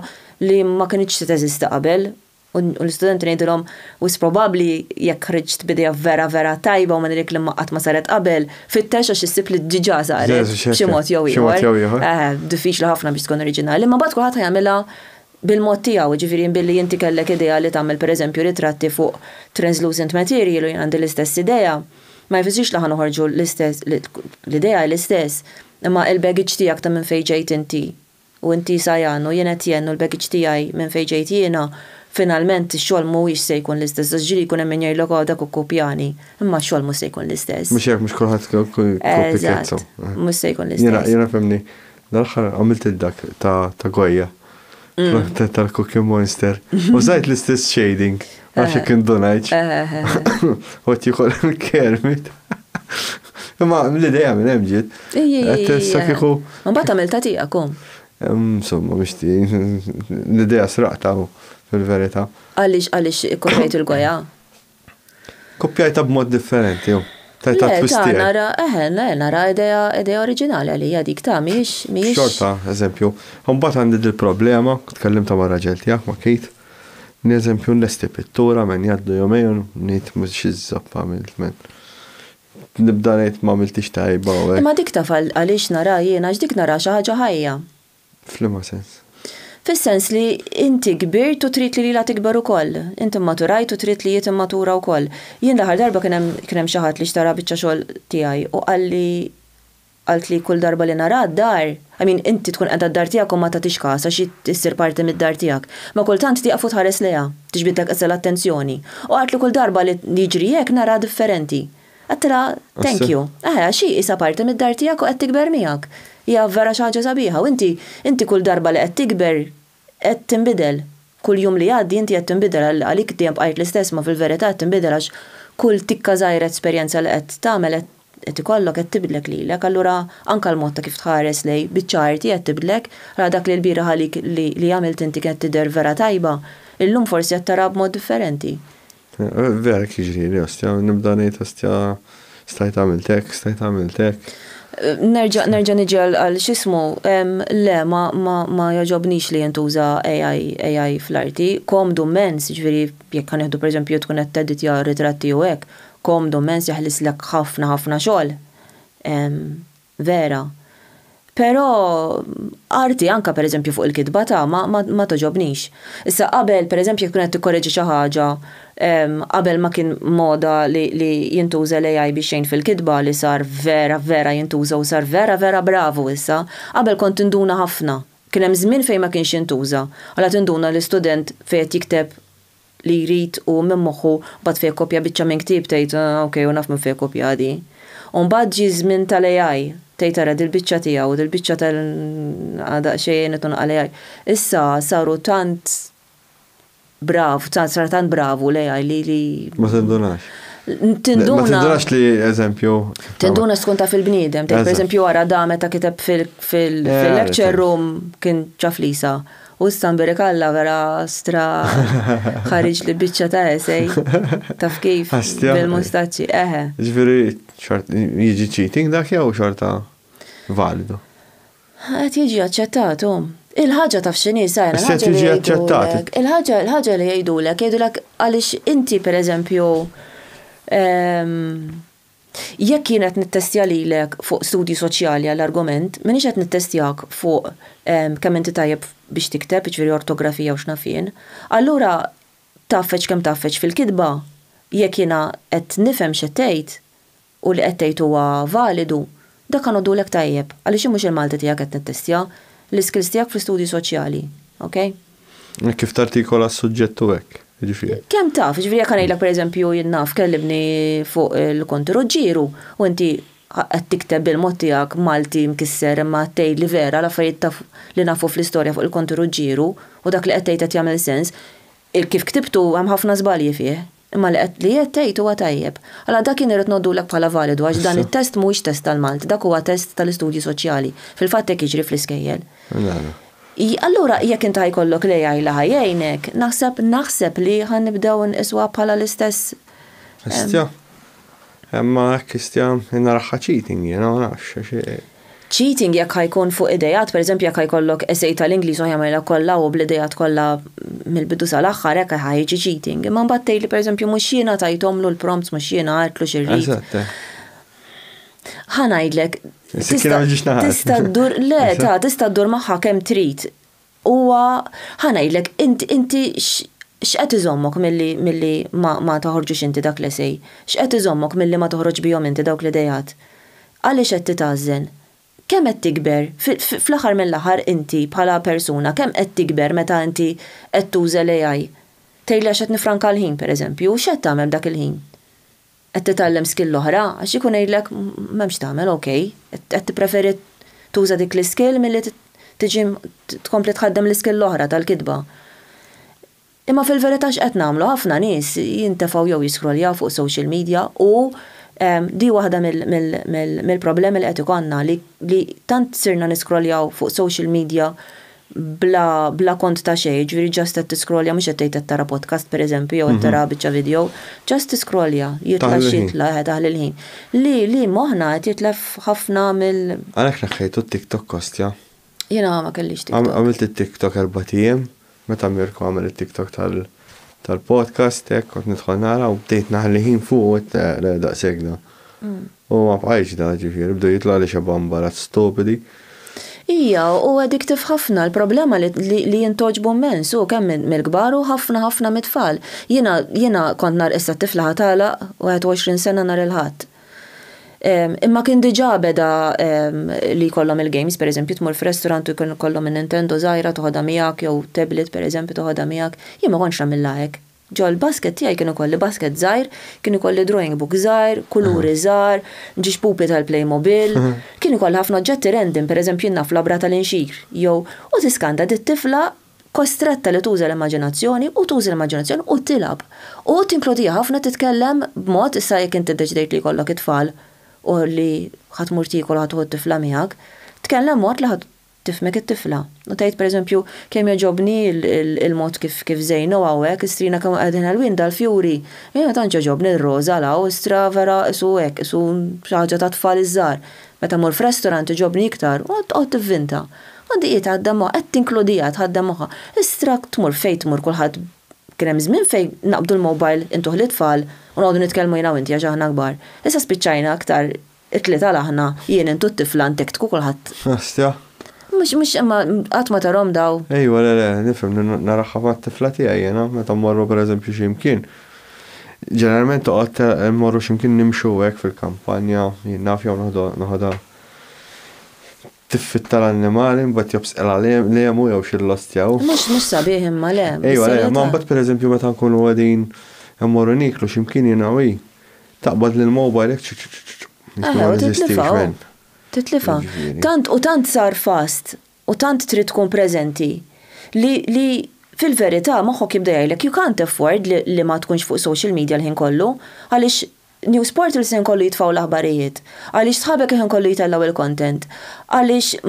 Speaker 1: li ma kinitx se teżisti qabel. U l-istudenti ngħidilhom, Wisq probabbli, jekk ħriġt b'idea vera vera tajba u minn dik li qatt ma saret qabel, fittex għax issib li diġà saret b'xi mod jew ieħor. Diffiċli ħafna biex tkun oriġinali, imma mbagħad kulħadd ħa jagħmilha bil-mod tiegħu, jiġifieri billi inti kellek idea li tagħmel pereżempju ritratti fuq translucent material u jien għandi l-istess idea, ma jfissirx li ħa noħorġu l-istess, l-idea hi l-istess, imma l-baggage tiegħek ta' minn fejn ġejt inti U inti Sajano, jien qed jenn u l-baggage tiegħi minn fejn ġejt jiena, finalment ix-xogħol mhuwiex se jkun l-istess għax ġieli jkun hemm min jgħidlok oh dak hu kopjani, imma x-xogħol mhux se jkun l-istess. Mhux hekk, mhux kulħadd se jkun kopjekazzo. Eżatt, mhux se jkun l-istess. Jiena fehmni, dal-aħħar għamilt id-dak ta' Goya, tal-Cookie Monster, użajt l-istess shading. Għax kien donajċ. Għot jikol kermit. Ma l-ideja minn hemm ġiet. Tessa kieku. Mbagħad għamil ta' tiegħekom. Insomma, biex ti l-ideja sraqta fil-verità. Għaliex għaliex ikkoprejt il-goja? Kopjajta b'mod differenti, jo. Tajta twisti. Nara, eħen, eh, nara ideja ideja oriġinali għalija dik ta' miex, miex. Xorta, eżempju, mbagħad għandi dil-problema, tkellimta ma' raġel tiegħek ma' Kate. Ni eżempju nlesti pittura men jgħaddu jomejn ngħid mhux xi żopp għamilt men nibda ngħid m'għamiltix tajba u hekk. Imma dik taf għaliex naraha jien għax dik naraha xi ħaġa ħajja. F'liema sens? Fis-sens li inti kbirt u trid li lilha tikber ukoll. Inti mmaturajt u trid li hi timmatura wkoll. Jien l-aħħar darba kien hemm kien hemm xi ħadd li xtara biċċa xogħol tiegħi u qalli, Qaltli hi kull darba li naraha d-dar, I mean inti tkun qiegħda d-dar tiegħek u ma tagħtix kas għax hi ssir parti mid-dar tiegħek, ma kultant tieqaf u tħares lejha, tiġbidlek iżda l-attenzjoni. U qaltli kull darba li jiġri hekk naraha differenti. Għedtilha, Thank you. Eħe, għax hi qisha parti mid-dar tiegħek u qed tikber miegħek. Hija vera xi ħaġa sabiħa u inti, inti kull darba li qed tikber, Qed tinbidel. Kull jum li jgħaddi inti qed tinbidel għal għalik dejjem bqajt l-istess imma fil-verità qed tinbidel għax kull tikka żgħira esperjenza li qed tagħmel qed qed ikollok qed tibdlek lilek allura anke l-mod ta' kif tħares lejn biċċa arti qed tibdlek ra dak li l-bieraħ għalik li li għamilt inti kienet tidher vera tajba illum forsi qed taraha b'mod differenti. Vera hekk jiġrili ostja, nibda ngħid ostja stajt għamilt hekk, stajt għamilt hekk. Nerġa' nerġa' niġi għal x'ismu, le ma jogħġobnix li jintuża AI AI fl-arti, komdu mmens, jiġifieri jekk ħa nieħdu pereżempju tkun qed teditja ritratti u hekk, komdu mmens jaħlislek ħafna ħafna xogħol. Vera. Però, arti anke per eżempju fuq il-kitba ta' ma togħġobnix. Issa qabel, per eżempju jekk tkun qed tikkoreġi xi ħaġa, qabel ma kien moda li jintuża l-AI biex jgħin fil-kitba li sar vera vera jintuża u sar vera vera bravu issa, qabel kont tinduna ħafna. Kien hemm żmien fejn ma kienx jintuża. Allura tinduna li student fejn qed jikteb li jrid hu minn moħħu mbagħad fejn ikkopja biċċa minn ktieb tgħid ok hu naf minn fejn kopjaha di. U mbagħad ġie ż-żmien tal-AI tgħid ara dil-biċċa tiegħu dil-biċċa tal ah daqsxejn għinet u naqal AI. Issa saru tant brav tant sar tant bravu l-AI li li. Ma tindunax. Tinduna. Ma tindunax li eżempju. Tinduna tkun taf il-bniedem. Tgħid pereżempju ara da meta kiteb fil-lecture room kien ċaf lisa. U issa nbirek Alla vera stra ħariġ li biċċa ta' esej. Taf kif? Bil-mustaċċi, eħe. Ġifieri xort jiġi cheating dak jew xorta validu? Qed jiġi aċċettat hu. Il-ħaġa taf x'inhi Simon, il-ħaġa li jgħidulek. Qed jiġi aċċettat. Il-ħaġa il-ħaġa li jgħidulek, jgħidulek għaliex inti pereżempju Jekk jien qed nittestja lilek fuq studji soċjali għall-argument, m'iniex qed nittestjak fuq kemm inti tajjeb biex tikteb, jiġifieri ortografija u x'naf jien. Allura tgħaffeġ kemm tgħaffeġ fil-kitba, jekk jiena qed nifhem x'qed tgħid u li qed tgħid huwa validu, Dak għanodulek tajjeb, għaliex jien mhux il-Malti tiegħek qed nittestja, l-iskills tiegħek fl-istudji soċjali. Okej? Hekk kif tartikola s-suġġett u hekk, jiġifieri. Kemm taf, jiġifieri jekk ngħidlek pereżempju jien naf kellibni fuq il-Konti Ruġġieru u inti qed tikteb bil-mod tiegħek Malti mkisser imma qed tgħidli vera l-affarijiet taf li nafu fl-istorja fuq il-Konti Ruġġieru u dak li qed tgħid qed jagħmel sens, il-kif ktibtu hemm ħafna żbalji fih, Imma li qed li qed tgħid huwa tajjeb. Allora dak jien irrid ngħoddulek bħala validu għax dan it-test mhuwiex test tal-Malti, dak huwa test tal-istudji soċjali. Fil-fatt hekk jiġri fl-iskejjel. Allura jekk int ħa jkollok l-AI li ħa jgħinek, naħseb naħseb li ħa nibdew inqisuha bħala l-istess. Histja. Imma hekk histja naraha cheating jien, ma nafx. Cheating jekk ħa jkun fuq idejat, pereżempju jekk ħa jkollok essay tal-Ingliż u ħa jagħmilha kollha hu bl-idejat kollha mill-bidu sal-aħħar hekk ħa jiġi cheating. Imma mbagħad tgħidli pereżempju mhux jiena tajthomlu l-prompts mhux jiena għedtlu xi rrid. Eżatt. Ħa ngħidlek. Is-sikkina ma ġietx naħat. Tista' ddur le ta' tista' ddur magħha kemm trid. Huwa, ħa ngħidlek, inti x'qed iżommok milli ma toħorġux inti dak l-esej? X'qed iżommok milli ma toħroġx bihom inti dawk l-ideat? Għaliex qed titgħażżen? Kemm qed tikber? Fl-aħħar mill-aħħar inti bħala persuna kemm qed tikber meta inti qed tuża l-AI? Tgħidli għax qed nifranka l-ħin, pereżempju, u x'qed tagħmel b'dak il-ħin? Qed titgħallem skill oħra għax ikun għidlek m'hemm x'tagħmel ok, qed tippreferi tuża dik l-iskill milli tiġi tkompli tħaddem l-iskill l-oħra tal-kitba. Imma fil-verità x'qed nagħmlu? Ħafna nies jintefgħu jew jiskrolljaw fuq social media u di waħda mill-problemi li qed ikollna li tant sirna niskrolljaw fuq social media bla bla kont ta' xejn, jiġifieri just qed tiscrollja mhux qed tgħid qed tara podcast pereżempju jew qed tara biċċa video, just tiscrollja, jitla' x'jitla' eħe taħli l-ħin. Li li moħħna qed jitlef ħafna mill. Għalhekk neħħejtu t-TikTok Kostja? Jiena ma kellix TikTok. Għamilt it-TikTok erbat ijiem, meta Mirko għamel it-TikTok tal tal-podcast hekk kont nidħol nara u bdejt naħli ħin fuq u għedt le le daqshekk da. U ma bqajtx da, ġifieri, bdew jitlgħu li xebgħu mbarazz stupidi. Hija, u addictive ħafna, l-problema li li jintgħoġbu mmens, hu kemm mill-kbar u ħafna ħafna mit-tfal. Jiena, jiena kont nhar issa t-tifla ħa tagħlaq 21 sena nhar il-Ħadd. Imma kien diġà beda li jkollhom il-games, per eżempju tmur f'resturant u jkun ikollhom in-Nintendo żgħira toħodha miegħek jew tablet per eżempju toħodha miegħek. Jien ma kontx nagħmilha hekk. Ġol-basket tiegħi kien ikolli basket żgħir, kien ikolli drawing book żgħir, kuluri żgħar, ġiex pupi tal-Playmobil, kien ikolli ħafna oġġetti random, pereżempju jien naf labra tal-inxir, jew, u tiskanta di t-tifla kostretta li tuża l-immaġinazzjoni u tuża l-immaġinazzjoni u tilgħab. U tinkludija ħafna titkellem b'mod, issa jekk inti ddeċidejt li jkollok it-tfal u li ħa tmur tiekol u ħa tieħu t-tifla miegħek, tkellem mod li ħa Tifhmek it-tifla. U tgħid pereżempju, kemm jogħġobni l-mod kif żejnu hawn hekk, istrina kemm qegħdin ħelwin dal-fjuri. Jiena tant jogħġobni l-roża l hawn, istra vera qisu hekk, qisu xi ħaġa tat-tfal iż-żgħar. Meta mmur f'restorant iġobni iktar, u tqgħod tivvinta. U dik hi tgħaddem moħħha, qed tinkludiha, tgħaddem moħħha. Istra tmur fejn tmur kulħadd kien hemm żmien fejn naqbdu l-mobile intuh lit-tfal u noqogħdu nitkellmu jiena u inti għax aħna kbar. Issa spiċċajna aktar It-tlieta l-aħna, jien, int u t-tifla, int hekk tkun kulħadd. Hostja. Mhux, mhux, imma qatt ma tarahom daw. Ejwa, le, le, nifhem, narahha mat-tifla tiegħi jiena, meta mmorru per eżempju xi mkien. Ġeneralment toqgħod, immorru xi mkien nimxu hekk fil-kampanja, jien naf jew noħodha tiffitta l-annimali, imbagħad jew b'sqilha l-għemu jew xi l-ostja u. Mhux, mhux sabiħ imma, le. Ejwa, le, imma imbagħad per eżempju meta nkunu qegħdin immorru nieklu xi mkien jiena u hi, Taqbad lil Mo Bajrek ċċċċċċ. Eħe, u titlifha hu. Titlifha. Tant u tant sar fast u tant trid tkun preżenti li li fil-verità moħħok jibda jgħidlek you can't afford li li ma tkunx fuq social media l-ħin kollu għaliex news portals l-ħin kollu jitfgħu l-aħbarijiet, għaliex sħabek il-ħin kollu jtellgħu l-content, għaliex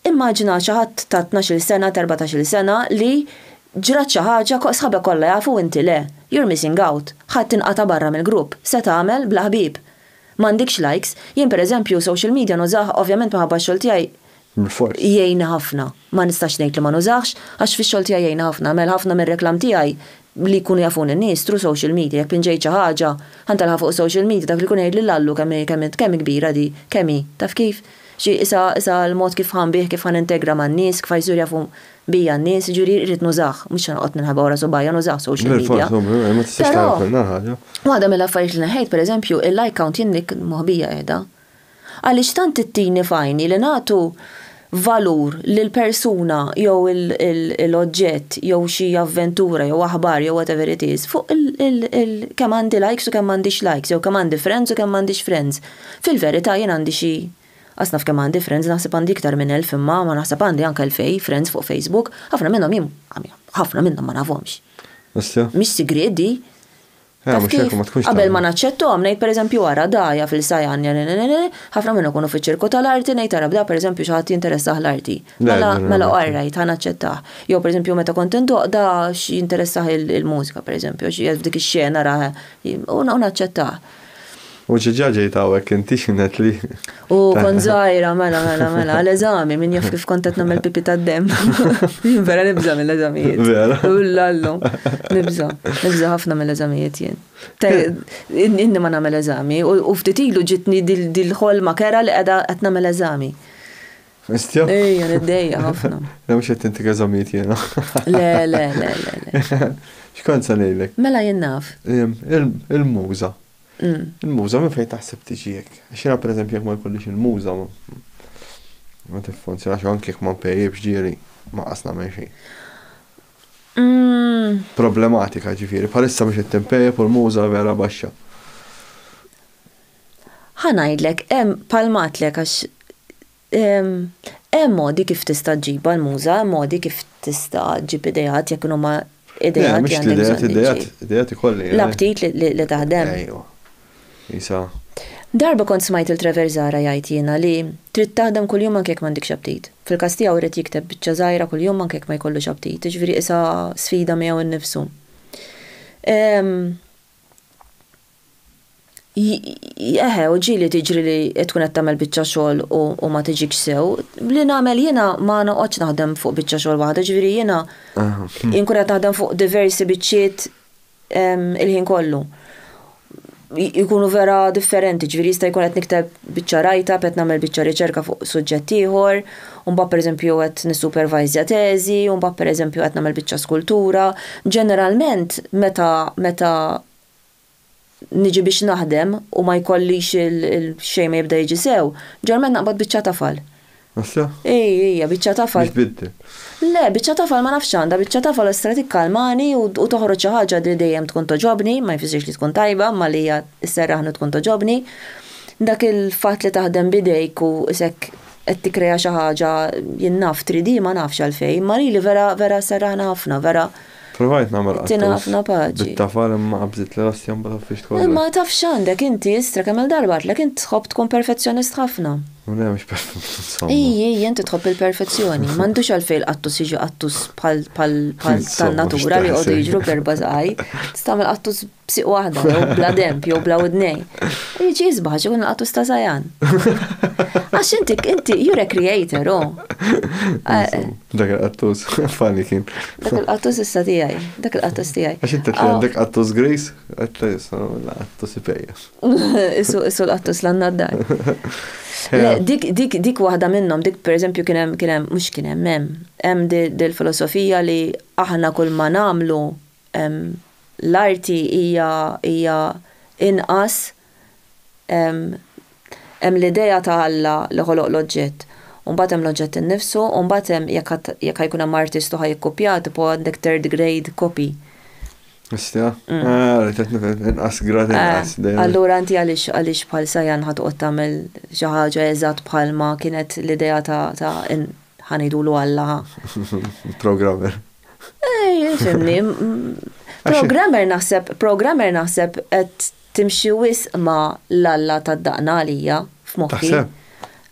Speaker 1: Immaġina xi ħadd ta' tnax-il sena, ta' erbatax-il sena li ġrat xi ħaġa ko sħabek kollha jafu u inti le. You're missing out. Ħadd inqata' barra mill-grupp. Se tagħmel bla ħbieb? M'għandikx likes. Jien per eżempju social media nużah ovvjament minħabba x-xogħol tiegħi jgħinni ħafna. Ma nistax ngħid li ma nużahx għax fix-xogħol tiegħi jgħinni ħafna. Għamel ħafna mir-reklam tiegħi li jkunu jafuni n-nies through social media jekk pinġejt xi ħaġa ħa ntelgħha fuq is-social media dak li jkun jgħidli l-allu kemm hi kemm hi kemm hi kbira di kemm hi taf kif? Xi issa issa l-mod kif ħa nbih kif ħa nintegra man-nies kif ħa jsir jafu bija n-nies jiġifieri irrid nużah mhux se noqgħod ninħeba wara subgħajja nużah social media però waħda mill-affarijiet li neħħejt pereżempju il-like count jien dik moħbija qiegħda Għaliex tant ittini f'għajni li nagħtu valur lil persuna jew l-oġġett jew xi avventura jew aħbar jew whatever it is fuq kemm għandi likes u kemm m'għandix likes jew kemm għandi friends u kemm m'għandix friends. Fil-verità jien għandi xi qas naf kemm għandi friends, naħseb għandi iktar minn elf imma ma naħseb għandi anke elfej friends fuq Facebook. Ħafna minnhom jien ħafna minnhom ma nafhomx. Mhix sigriet di. Taf kif? Qabel ma naċċettom, ngħid pereżempju ara dgħajja fil-sajanja, ħafna minnhom ikunu fiċ-ċirku tal-arti, ngħid ara bda pereżempju xi ħadd jinteressah l-arti. Mela, mela orrajt, ħa naċċettah. Jew pereżempju meta kont indoqda x'jinteressah il-mużika pereżempju, xi f'dik ix-xena ra u naċċettah. U ġiġa ġejt hawnhekk inti x'inhet li. U kont żgħira, mela, mela, mela, għal eżami, min jaf kif kont qed nagħmel pipi tad-demm. Jien vera nibża' mill-eżamijiet. Vera. Ullallu, nibża', nibża' ħafna mill-eżamijiet jien. Inni ma nagħmel eżami u ftit ilu ġitni dil-ħolma kera li qiegħda qed nagħmel eżami. Istja? Ejja, niddejja ħafna. Le mhux qed intik eżamijiet jiena. Le, le, le, le. X'kont se ngħidlek? Mela jien naf. Il-muża. Il-muża minn fejn taħseb tiġi hekk? Għax jiena pereżempju jekk ma jkollix il-muża ma tiffunzjonax u anke jekk ma npejjipx ġieli ma qas nagħmel xejn. Problematika ġifieri, bħalissa mhux qed tinpejjep u l-muża vera baxxa. Ħa ngħidlek, hemm palmatlek għax Hemm modi kif tista' ġġibha l-Muża, hemm modi kif tista' ġġib ideat jekk huma ideat li għandek bżonn iġġib. Le, mhux l-ideat, ideat ikolli jien. L-aptit li taħdem. Ejwa. Isa. Darba kont smajt lil Trevor Zahra jgħid jiena li trid taħdem kuljum anke jekk m'għandikx aptit. Fil-każ tiegħu ried jikteb biċċa żgħira kuljum anke jekk ma jkollux aptit, jiġifieri qisha sfida miegħu nnifsu. Eħe, u ġieli tiġri li tkun qed tagħmel biċċa xogħol u ma tiġikx sew. Bli nagħmel jiena ma noqgħodx naħdem fuq biċċa xogħol waħda, ġifieri jiena inkun qed naħdem fuq diversi biċċiet il-ħin kollu. Ikunu vera differenti, ġifieri jista' jkun qed nikteb biċċa write-up, qed nagħmel biċċa riċerka fuq suġġett ieħor. u mbagħad pereżempju qed nissupervajżja teżi, u mbagħad pereżempju qed nagħmel biċċa skultura. Ġeneralment meta meta niġi biex naħdem u ma jkollix xejn ma jibda jiġi sew, ġeneralment naqbad biċċa tafal. Issa? Ej, ejja, biċċa tafal. Biex tbiddel. Le, biċċa tafal ma nafx għandha, biċċa tafal estra tikkalmani u toħroġ xi ħaġa li dejjem tkun togħġobni, ma jfissirx li tkun tajba, imma li hija sserraħni u tkun togħġobni. Dak il-fatt li taħdem b'idejk u isek qed tikkrea xi ħaġa jien naf tridhi ma nafx għalfejn imma lili vera vera sserraħna ħafna vera Provajt nagħmel qattus. Tina ħafna paċi. Bit-tafal imma qabżiet li rossi mbagħad ħaffixt kollox. Imma taf x'għandek inti istra kemm-il darba għidtlek int tħobb tkun perfezzjonist ħafna. U le mhux perfezzjonist insomma. Hi hi inti tħobb il-perfezzjoni. M'għandux għalfejn il-qattus jiġi qattus bħal bħal bħal tan-natura li jqogħdu jiġru b'erba' żgħir. Tista' tagħmel qattus b'siq waħda, jew bla demb, jew bla widnejn. Jiġi jisbaħ għax ikun laqatu sta zajan. Għax inti, inti, you're a creator, oh. Dak il-qattus, fani kien. Dak il-qattus issa tijaj, dak il-qattus tijaj. Għax inti tli għandek qattus gris, għatla jissa, qattus ipejjes. Isu, isu l-qattus l-għanna d-dar. Dik, dik, dik wahda minnom, dik per eżempju kienem, kienem, mux kienem, mem, hemm dil-filosofija li aħna kull ma namlu, l-arti hija hija inqas hemm l-idea ta' Alla li ħoloq l-oġġett, u mbagħad hemm l-oġġett innifsu, u mbagħad hemm jekk jekk ħa jkun hemm artist u ħa jikkupjah tipo għandek third grade copy. Issa? Ara qed nifhem inqas grad inqas dejjem. Allura inti għaliex għaliex bħal Sayan ħa toqgħod tagħmel xi ħaġa eżatt bħalma kienet l-idea ta' ta' ħa ngħidulu Alla ħa. Programmer. Fimni, programmer naħseb, programmer naħseb qed timxi wisq ma l-alla tad-daqna għalija f'moħħi.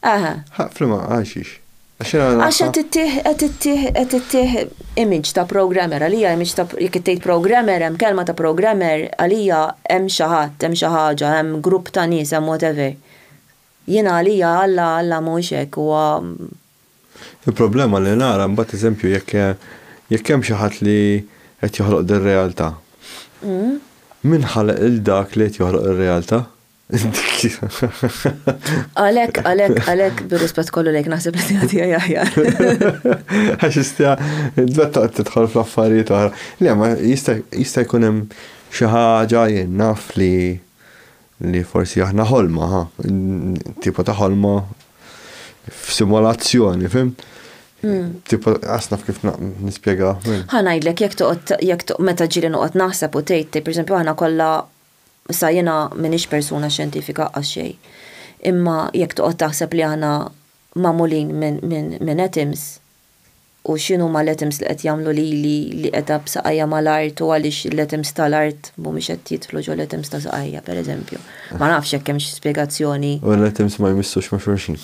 Speaker 1: Aha. Flima, għaxix. Għax qed ittih, qed ittih, qed ittih image ta' programmer għalija image ta' jekk ittejt programmer hemm kelma ta' programmer għalija hemm xi ħadd, hemm xi ħaġa, hemm grupp ta' nies, hemm whatever. Jiena għalija alla, alla mhuwiex hekk huwa Il-problema li nara mbagħad eżempju jekk jekk hemm xi ħadd li qed joħloq dir-realtà. Min ħalaq lil dak li qed joħloq ir-realtà? Għalhekk, għalhekk, għalhekk bir-rispett kollu lejk naħseb li tiegħi tiegħi aħjar. Għax istja, tbetta tidħol fl-affarijiet oħra. Le, ma jista' jkun hemm xi ħaġa jien naf li Li forsi aħna ħolma, ha, tipo ta' ħolma f'simulazzjoni, fimt? Tipo, għas naf kif nispjega. Ħa ngħidlek jekk toqgħod jekk toqgħod meta ġieli noqgħod naħseb u tgħid, tgħid pereżempju aħna kollha sa jiena m'iniex persuna xjentifika qatt xejn. Imma jekk toqgħod taħseb li aħna magħmulin minn atoms, u x'inhuma l-items li qed jagħmlu lili li qiegħda b'saqajja mal-art u għaliex l-items tal-art mhumiex qed jidħlu ġol-items ta' saqajja, pereżempju. Ma nafx jekk hemmx spjegazzjoni. U l-items ma jmissux ma' xulxin.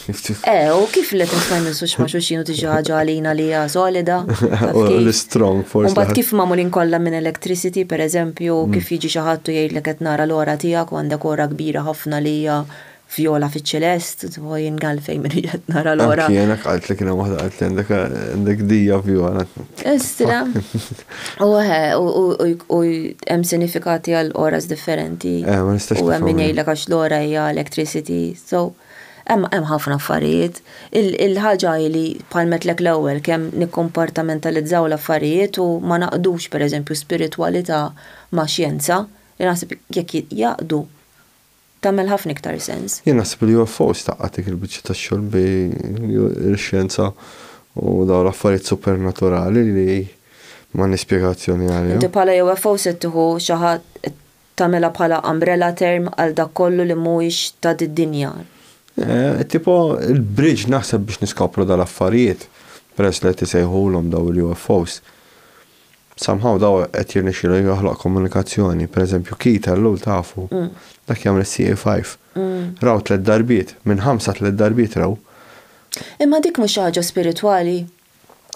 Speaker 1: Eh, u kif l-items ma jmissux ma' xulxin u tiġi xi ħaġa għalina li hija solida? Taf kif? L-istrong forsi. U mbagħad kif magħmulin kollha minn electricity, pereżempju, kif jiġi xi ħadd u jgħidlek qed nara l-għora tiegħek u għandek għora kbira ħafna li hija Vjola fiċ-ċelest, u jien għalfejn minn qed nara l-ora. Anki jien għalt li kien hemm waħda qalt li għandek għandek dija vjola. Istra. U u hemm sinifikati għal oras differenti. Eh, ma nistax. U hemm min jgħidlek għax l-ora hija electricity. So, hemm hemm ħafna affarijiet. Il-ħaġa li palmetlek l-ewwel kemm nikkompartamentalizzaw l-affarijiet u ma naqdux pereżempju spiritwalità ma' xjenza, li naħseb jekk jaqdu tagħmel ħafna iktar sens. Jien naħseb li UFOs tgħaqqad dik il-biċċa ta' xogħol bi l-xjenza u dawn l-affarijiet supernaturali li m'għandniex spjegazzjoni għalihom. Inti bħala UFO se tieħu xi ħadd tagħmilha bħala umbrella term għal dak kollu li mhuwiex ta' did-dinja. Tipo il-bridge naħseb biex niskopru dawn l-affarijiet peress li qed isejħulhom dawn il-UFOs. Somehow daw qed jirnexxielu joħloq komunikazzjoni, per eżempju Keith Ellul tafu? Dak jagħmel is-CA five. Raw tliet darbiet, minn ħamsa tliet darbiet raw. Imma dik mhux xi ħaġa spiritwali?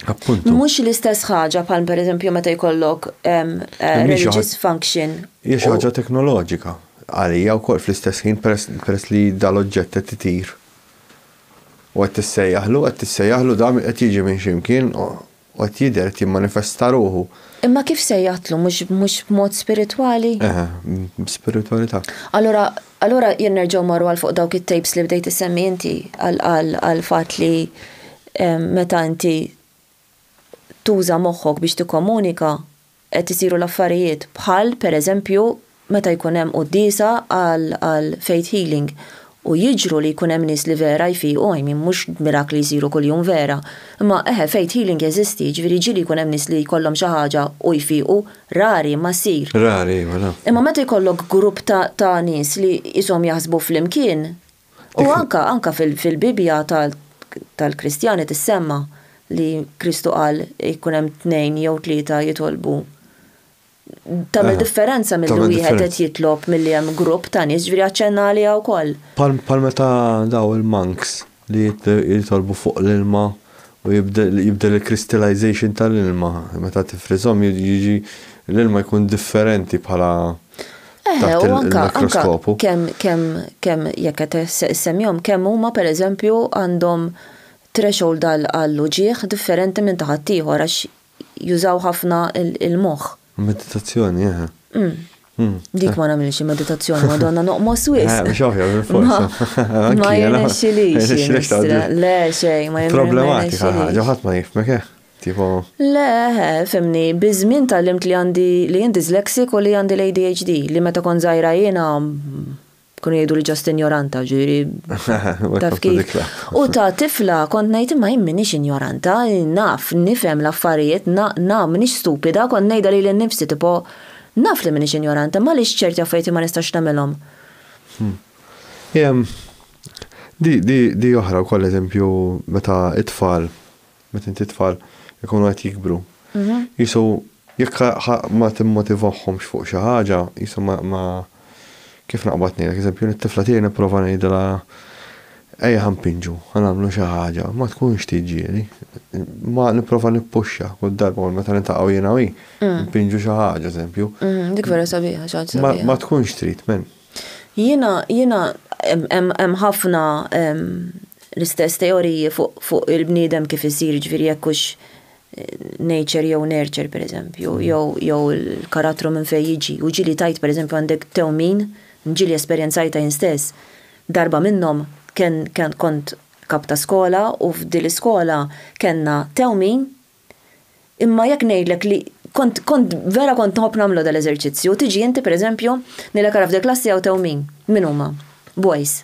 Speaker 1: Appuntu. Mhux l-istess ħaġa bħal per eżempju meta jkollok religious function. Hija xi ħaġa teknoloġika għalija wkoll fl-istess ħin peress li dal-oġġett qed itir u qed tissejjaħlu, qed tissejjaħlu dan qed jiġi minn xi mkien U qed jidher, qed jimmanifesta ruħu. Imma kif se jaqtlu? Mhux, mhux b'mod spiritwali? Eħe, b'spiritwalità. Allura, allura jien nerġgħu marru għal fuq dawk it-tapes li bdejt issemmi inti għal fatt li meta inti tuża moħħok biex tikkomunika, qed isiru l-affarijiet bħal, per eżempju, meta jkun hemm quddiesa għal faith healing u jiġru li jkun hemm nies li vera jfiqu, I mean mhux mirakli jsiru kuljum vera, imma eħe faith healing jeżisti, jiġifieri jiġri li jkun hemm nies li jkollhom xi ħaġa u jfiqu, rari imma ssir. Rari iva, naf. Imma meta jkollok grupp ta' nies li qishom jaħsbu flimkien, U anka, anka fil-Bibbja tal-Kristjani tissemma li Kristu qal jkun hemm tnejn jew tlieta jitolbu. Tagħmel differenza milli wieħed qed jitlob milli hemm grupp ta' nies, ġifieri aċċenna għaliha wkoll. Bħal meta dawn il-monks li jitolbu fuq l-ilma u jibdel il-crystallization tal-ilma, meta tifriżhom jiġi l-ilma jkun differenti bħala. Eħe, u anka, anka, kem, kem, kem, jekk qed semmjom, kem huma per eżempju għandhom threshold għal uġieħ differenti minn taħat ieħor għax jużaw ħafna il-moħħ. Meditazzjoni, eħe. Mm. Mm. Dik ma nagħmilx meditazzjoni, madonna noqmos wis. Eh, biex oħja, Ma jirnexxilix. Le, xej, ma jirnexxilix. Problematika ħaġa, ħadd ma jifmek, eh? Tieħu? Le, fhimni, biż-żmien tgħallimt li għandi, li jien dyslexic u li għandi l-ADHD, li meta kont żgħira jiena, kienu jgħiduli just injoranta, ġifieri, taf kif. U ta' tifla kont ngħid imma jien m'iniex injoranta, naf, nifhem l-affarijiet, na, na, m'iniex stupida, kont ngħidha lili nnifsi tipo, naf li m'iniex injoranta, imma għaliex ċerti affarijiet jien ma nistax nagħmilhom? Di, di, di oħra wkoll eżempju meta t-tfal meta inti tfal ikunu qed jikbru. Jisu jekk ma timmotivahomx fuq xi ħaġa, jisu ma kif naqbad ngħidlek, eżempju, it-tifla tiegħi nipprova ngħidilha ejja ħa npinġu, ħa nagħmlu xi ħaġa, ma tkunx tiġieli. Ma nipprova nippuxxa kull darba meta niltaqgħu jiena u hi, npinġu xi ħaġa, eżempju. Dik vera sabiħa, xi ħaġa sabiħa. Ma tkunx trid, men. Jiena, jiena, hemm ħafna l-istess teoriji fuq il-bniedem kif isir, ġifieri jekk hux nature jew nurture pereżempju, jew jew il-karattru minn fejn jiġi. U ġieli tajt pereżempju għandek tewmin, ġieli esperjenzajtha jien stess. Darba minnhom kien kont kap ta' skola u f'dil-iskola kellna tewmin, Imma jekk ngħidlek li kont kont vera kont nħobb nagħmlu dal-eżerċizzju, tiġi inti pereżempju, ngħidlek ara f'dil-klassi hawn tew min? Min huma? Boys.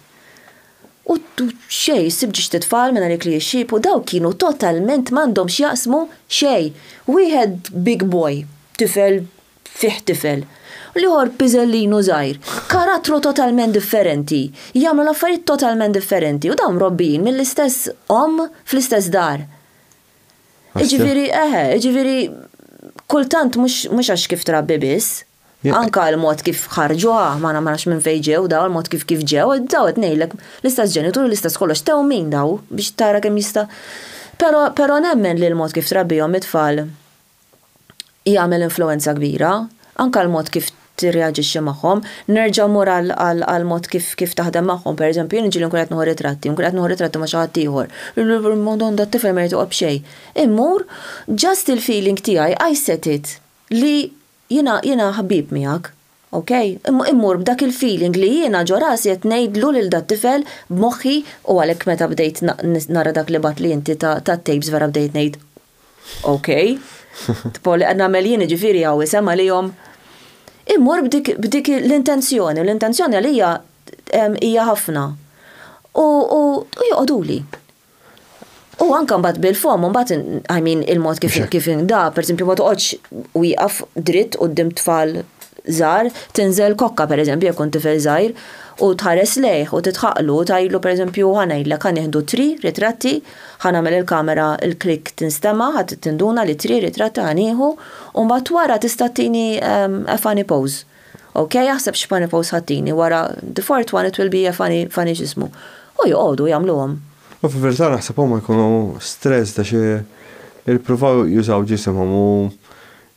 Speaker 1: U xejn, issib ġiex tit-tfal minn għalik li jixxiebħu, dawk kienu totalment m'għandhom x'jaqsmu xejn. Wieħed big boy, tifel fih tifel. U l-ieħor piżellinu żgħir. Karattru totalment differenti. Jagħmlu l-affarijiet totalment differenti. U dawn mrobbijin mill-istess omm fl-istess dar. Iġifieri eħe, iġifieri kultant mhux għax kif trabbi biss, anka l-mod kif ħarġuha, ma nafx minn fejn ġew daw, il-mod kif kif ġew, daw qed ngħidlek l-istess ġenitur, l-istess kollox, tewmin daw biex tara kemm jista'. Però nemmen li l-mod kif trabbihom it-tfal jagħmel influwenza kbira, anke għall-mod kif tirreaġixxi magħhom. Nerġa' mmur għall-mod kif taħdem magħhom. Pereżempju, jien iġieli nkun qed nieħu ritratti, nkun qed nieħu ritratti ma' xi ħadd ieħor. Madonna, t-tifel ma jrid joqgħod b'xejn. Immur, just il-feeling tiegħi, I set it li jiena ħbieb miegħek. Ok, immur b'dak il-feeling li jiena ġo rasi qed ngħidlu lil dat-tifel b'moħħi u għalhekk meta bdejt nara dak li bgħatt li inti tat-tapes vera bdejt ngħid Ok, tipo li qed nagħmel jien jiġifieri hawn isem għalihom. Immur b'dik l-intenzjoni u l-intenzjoni għalija hija ħafna. U joqogħduli. U anka mbagħad bil-fom, mbagħad I mean il-mod kif kif da, pereżempju ma toqgħodx wieqaf dritt quddiem tfal żgħar, tinżel kokka pereżempju jekk kont tifel żgħir u tħares lejh u titħaqlu u tgħidlu pereżempju ħa ngħidlek ħa nieħdu tri ritratti, ħa nagħmel il-kamera l-click tinstema' ħa tinduna li tri ritratti ħa nieħu u mbagħad wara tista' tini a funny pose. Ok, aħseb x'funny posts ħattini wara the 420 it will be a funny funny x'ismu. U joqogħdu jagħmluhom. U fil-verità naħseb huma jkunu stressed għax ippruvaw jużaw ġisimhom u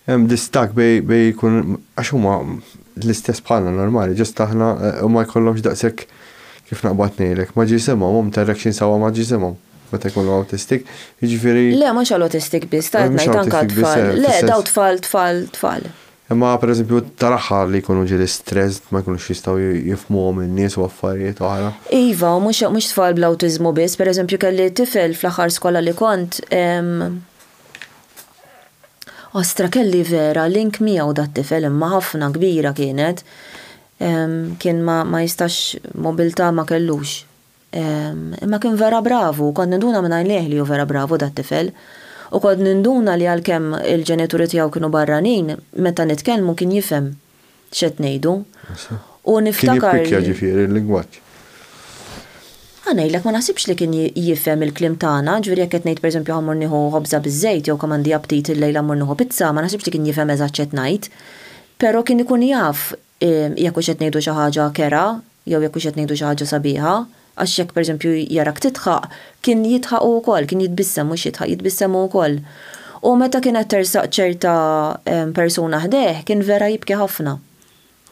Speaker 1: hemm distakk bejn bejn ikun għax huma l-istess bħalna normali just aħna u ma jkollhomx daqshekk kif naqbad ngħidlek ma' ġisimhom hum ta' reaction sewwa ma' ġisimhom meta jkunu awtistik. Jiġifieri. Le mhux għall-awtistik biss, ta' qed ngħid anke għat-tfal. Le dawn tfal tfal tfal. Imma pereżempju tal-aħħar li jkunu ġieli stressed ma jkunux jistgħu jifhmuhom in-nies u affarijiet oħra. Iva, u mhux mhux tfal bl-awtiżmu biss, pereżempju kelli tifel fl-aħħar skola li kont, ostra kelli vera link miegħu dat-tifel imma ħafna kbira kienet, kien ma jistax mobilità ma kellux. Imma kien vera bravu u kont ninduna minn għajnejh li hu vera bravu dat-tifel. U kont ninduna li għalkemm il-ġenituri tiegħu kienu barranin, meta nitkellmu kien jifhem x'qed ngħidu. U niftakar li. Kien jippikkja ġifieri l-lingwaġġ. Ħa ngħidlek, ma naħsibx li kien jifhem il-kliem tagħna, ġifieri jekk qed ngħid pereżempju ħa mmur nieħu ħobża biż-żejt jew kemm għandi aptit illejla mmur nieħu pizza, ma naħsibx li kien jifhem eżatt x'qed ngħid. Però kien ikun jaf jekk hux qed ngħidu xi ħaġa kerha jew jekk hux qed ngħidu xi ħaġa sabiħa, għax jekk pereżempju jarak tidħaq, kien jidħaq hu wkoll, kien jitbissem, mhux jidħaq, jitbissem hu wkoll. U meta kienet tersaq ċerta persuna ħdejh, kien vera jibki ħafna.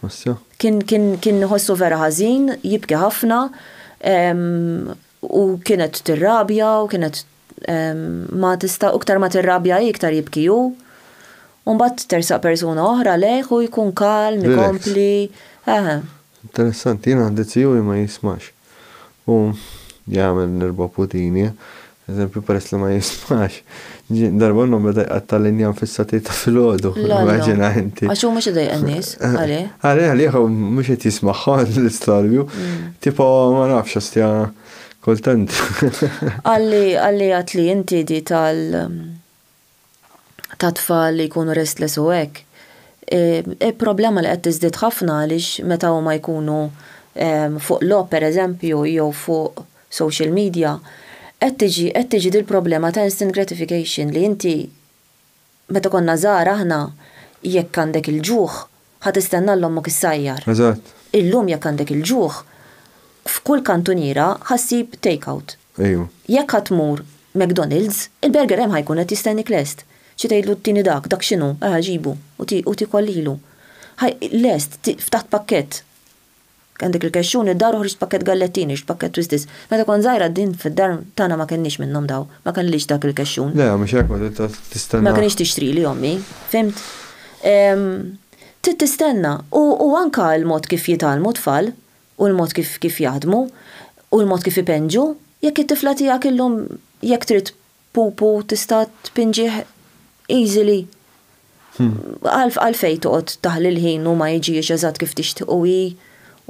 Speaker 1: Ħossha? Kien, kien, kien iħossu vera ħażin, jibki ħafna, u kienet tirrabja u kienet Ma tista' iktar ma tirrabja hi iktar jibki hu. U mbagħad tersaq persuna oħra lejh u jkun kalm, ikompli, eħe. Interessanti, jien għandi ziju li ma jismax. U jagħmel l-erba' putini, eżempju, peress li ma jismax. Darba minnhom beda jqatta' l-injam fis-satej ta' filgħodu, immaġina inti. Għax hu mhux idejjaq in-nies, għalih. Għalih, għalih, mhux qed jismagħhom l-istorbju. Tipo, ma nafx, ostja. Kultant. Għalli għalli għatli inti di tal ta' tfal li jkunu restless u hekk. Il-problema li qed tiżdied ħafna għaliex meta huma jkunu fuq logħob pereżempju jew fuq social media, qed tiġi qed tiġi dil-problema ta' instant gratification li inti Meta konna żgħar aħna, jekk għandek il-ġuħ, ħa tistenna 'l ommok issajjar. Eżatt. Illum jekk għandek il-ġuħ, f'kull kantuniera ħa ssib take-out. Ejwa. Jekk ħa tmur McDonald's, il-burger hemm ħa jkun qed jistennik lest. Xi tgħidlu tini dak, dak x'inhu, erħa ġibu u tiekol lilu. Ħa lest, ftaħt pakkett. Kien dik il-kexxun id-dar uħriġt pakkett gallettini, ridt pakkett twisties. Meta kont żgħira din fid-dar tagħna ma kellniex minnhom dawn. Ma kellix dak il-kexxun. Le, mhux hekk ma trid tistenna. Ma kinitx tixtrili ommi. Fhimt? Trid tistenna. U anke l-mod kif jitgħallmu t-tfal, u l-mod kif jaħdmu, u l-mod kif ipenġu. Jekk it-tifla tiegħek illum jekk trid Pupu tista' tpinġih easily. Għalfejn toqgħod taħli l-ħin u ma jiġix eżatt kif tixtieq u hi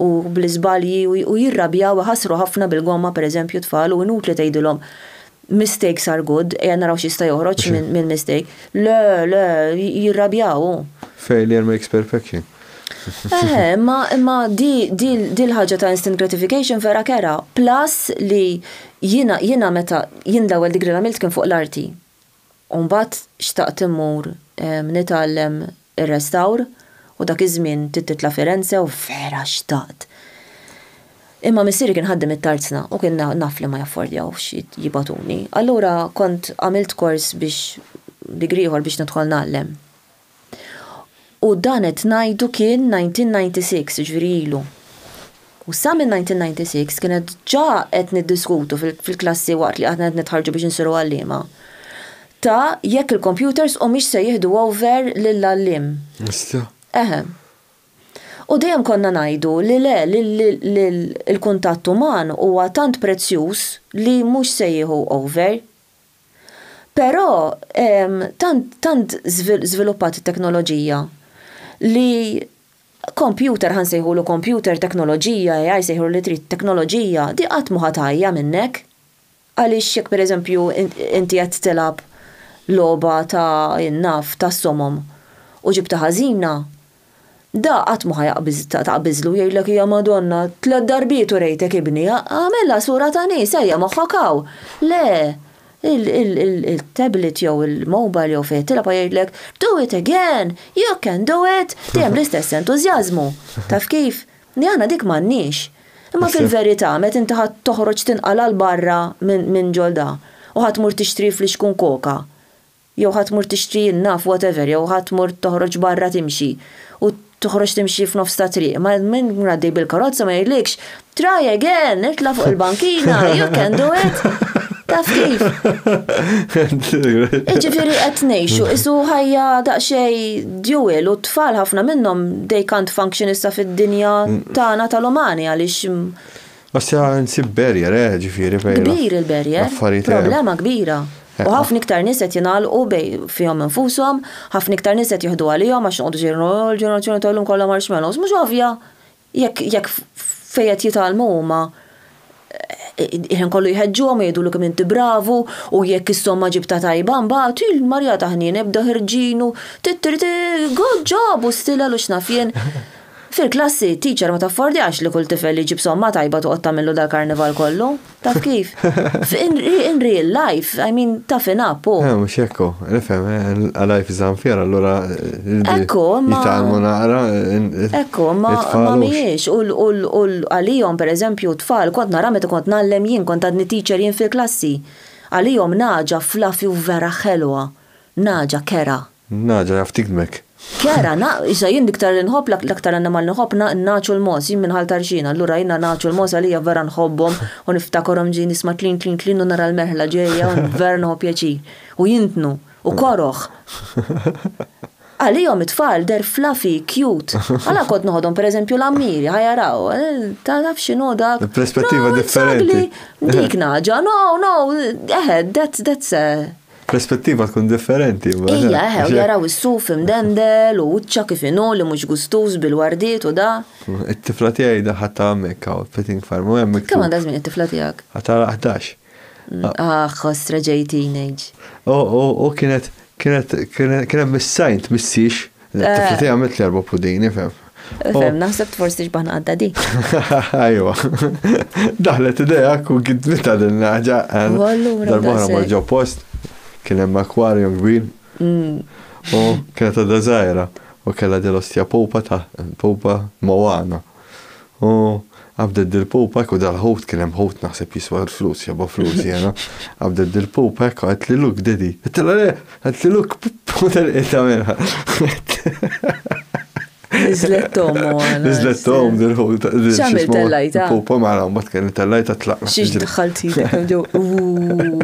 Speaker 1: u bl-iżbalji u jirrabjaw iħassru ħafna bil-gomma pereżempju t-tfal u inutli tgħidilhom mistakes are good, ejja naraw x'jista' joħroġ minn mistake. Le, le, jirrabjaw hu. Failure makes perfection. Eħe, imma imma di di di l-ħaġa ta' instant gratification vera kera. Plus li jiena jiena meta jien l-ewwel degree li għamilt kien fuq l-arti. U mbagħad xtaqt immur nitgħallem ir-restawr u dak iż-żmien trid titla' Firenze u vera xtaqt. Imma missieri kien ħaddiem it-tarzna u kien naf li ma jaffordjawx jibgħatuni. Allura kont għamilt kors biex degree ieħor biex nidħol ngħallem. U dan qed ngħidu kien 1996, jiġifieri ilu. U sa minn 1996 kienet ġa qed niddiskutu fil-klassi waqt li aħna qed nitħarġu biex insiru għalliema ta' jekk il-kompjuters humiex se jieħdu over lill-għalliem. Issa? Eħe. U dejjem konna ngħidu li le, l-kuntatt uman huwa tant prezzjuż li mhux se jieħu over. Però tant tant żviluppat it-teknoloġija li kompjuter ħa nsejħulu kompjuter, teknoloġija, AI sejħulu li trid, teknoloġija, di qatt mhu ħa tgħajja minnek. Għaliex jekk pereżempju inti qed tilgħab logħba ta' naf tas-somom u ġibtha ħażina, Da qatt ma ħa taqbiżlu jgħidlek ja Madonna, tliet darbiet urejtek ibni, agħmilha sura ta' nies, ejja moħħok hawn. Le, il-tablet jew il-mobile jew fejn qed tilgħab ħa jgħidlek, do it again, you can do it, dejjem l-istess entużjażmu. Taf kif? Li aħna dik m'għandniex. Imma fil-verità meta inti ħa toħroġ tinqala' 'l barra minn ġol da u ħa tmur tixtri flixkun koka, jew ħa tmur tixtri in-naf whatever jew ħa tmur toħroġ barra timxi u toħroġ timxi f'nofs ta' triq ma min ikun għaddej bil-karozza ma jgħidlikx Try again! Itla' fuq il-bankina! You can do it! Taf kif? Jiġifieri qed ngħixu qisu ħajja daqsxejn dual u t-tfal ħafna minnhom they can't function issa fid-dinja tagħna tal-umani għaliex Għax nsib barrier, eh, ġifieri bejn. Kbir il-barrier, problema kbira. U ħafna iktar nies qed jingħalqu bej fihom infushom, ħafna iktar nies qed jieħdu għalihom għax noqogħdu xejn il-ġenerazzjoni ta' llum kollha marshmallows. Mhux ovvja, jekk jekk fejn qed jitgħallmu huma il-ħin kollu jħeġġuhom jgħidulu kemm inti bravu u jekk is-somma ġibta tajba mbagħad il-marjata ħniena jibda ħirġinu tittiriti good job u stilel u x'naf jien. Fil-klassi, t-teacher ma taffordjax li kull tifel li jġib somma tajba toqgħod tagħmillu dal-karnival kollu. Taf kif? In real life, I mean, toughen up, hu. Eh, mhux hekk hu. Nifhem, a life is unfair, allura. Ekku, ma. Jitalmu naqra. Ekku, ma mhijiex. U għalihom, pereżempju, tfal, kont nara meta kont ngħallem jien, kont għadni teacher jien fil-klassi. Għalihom naġa fluffy u vera ħelwa. Naġa kera. N-nagħġa jaf tigmek. Chiara, Na, issa jien l-iktar li nħobb, l-aktar annimal li nħobb, na, n-nagħaġ u l-mogħoż, jien minn Ħal Tarxien, allura jiena n-nagħaġ u l-mogħoż għalija vera nħobbhom u niftakarhom ġej nisma' tlin tlin tlin u nara l-merħla ġejja u vera nieħu pjaċir. U jintnu. U koroh. Għalihom it-tfal they're fluffy, cute. Għala kont noħodhom per eżempju l-għammieri, ha jaraw, taf x'inhu dak. Il-perspettiva differenti. Dik nagħġa, no, no, eħe, that's, that's a. Perspettiva tkun differenti. Ija, eħe, u jaraw is-suf imdendel u uċċa kif inhu li mhux gustuż bil-wardiet u da. It-tifla tiegħi daħħat ta' hemmhekk hawn Petting Farm u hemm. Kemm għandha żmien it-tifla tiegħek? Għadha 11. Ah, ħoss reġej teenage. U kienet kien hemm is-sajnt missiex L-tifla tiegħi għamilt li erba' pudini, fem. Fem, naħseb forsi xbaħna għadda di. Ajwa. Daħlet ideja ku gidmita din l-ħaġa. Darba ma ġo post, kien hemm akwarju kbir. Mm. U kienet għadda żgħira u kellha dil-ostja popa ta' popa Moana. U qabdet dil-pupek u dal-ħut, kien hemm ħut naħseb jiswa l-flus, jabha flus jiena, qabdet dil-pupek u għedtli look daddy. Għedtilha le, għedtli look u telqiet tagħmilha. Niżlet tommu għana. Niżlet tommu dil-ħut. X'għamil tellajta? Pupa mara, mbagħad kien tellajta tlaqna. Xiex daħħalti,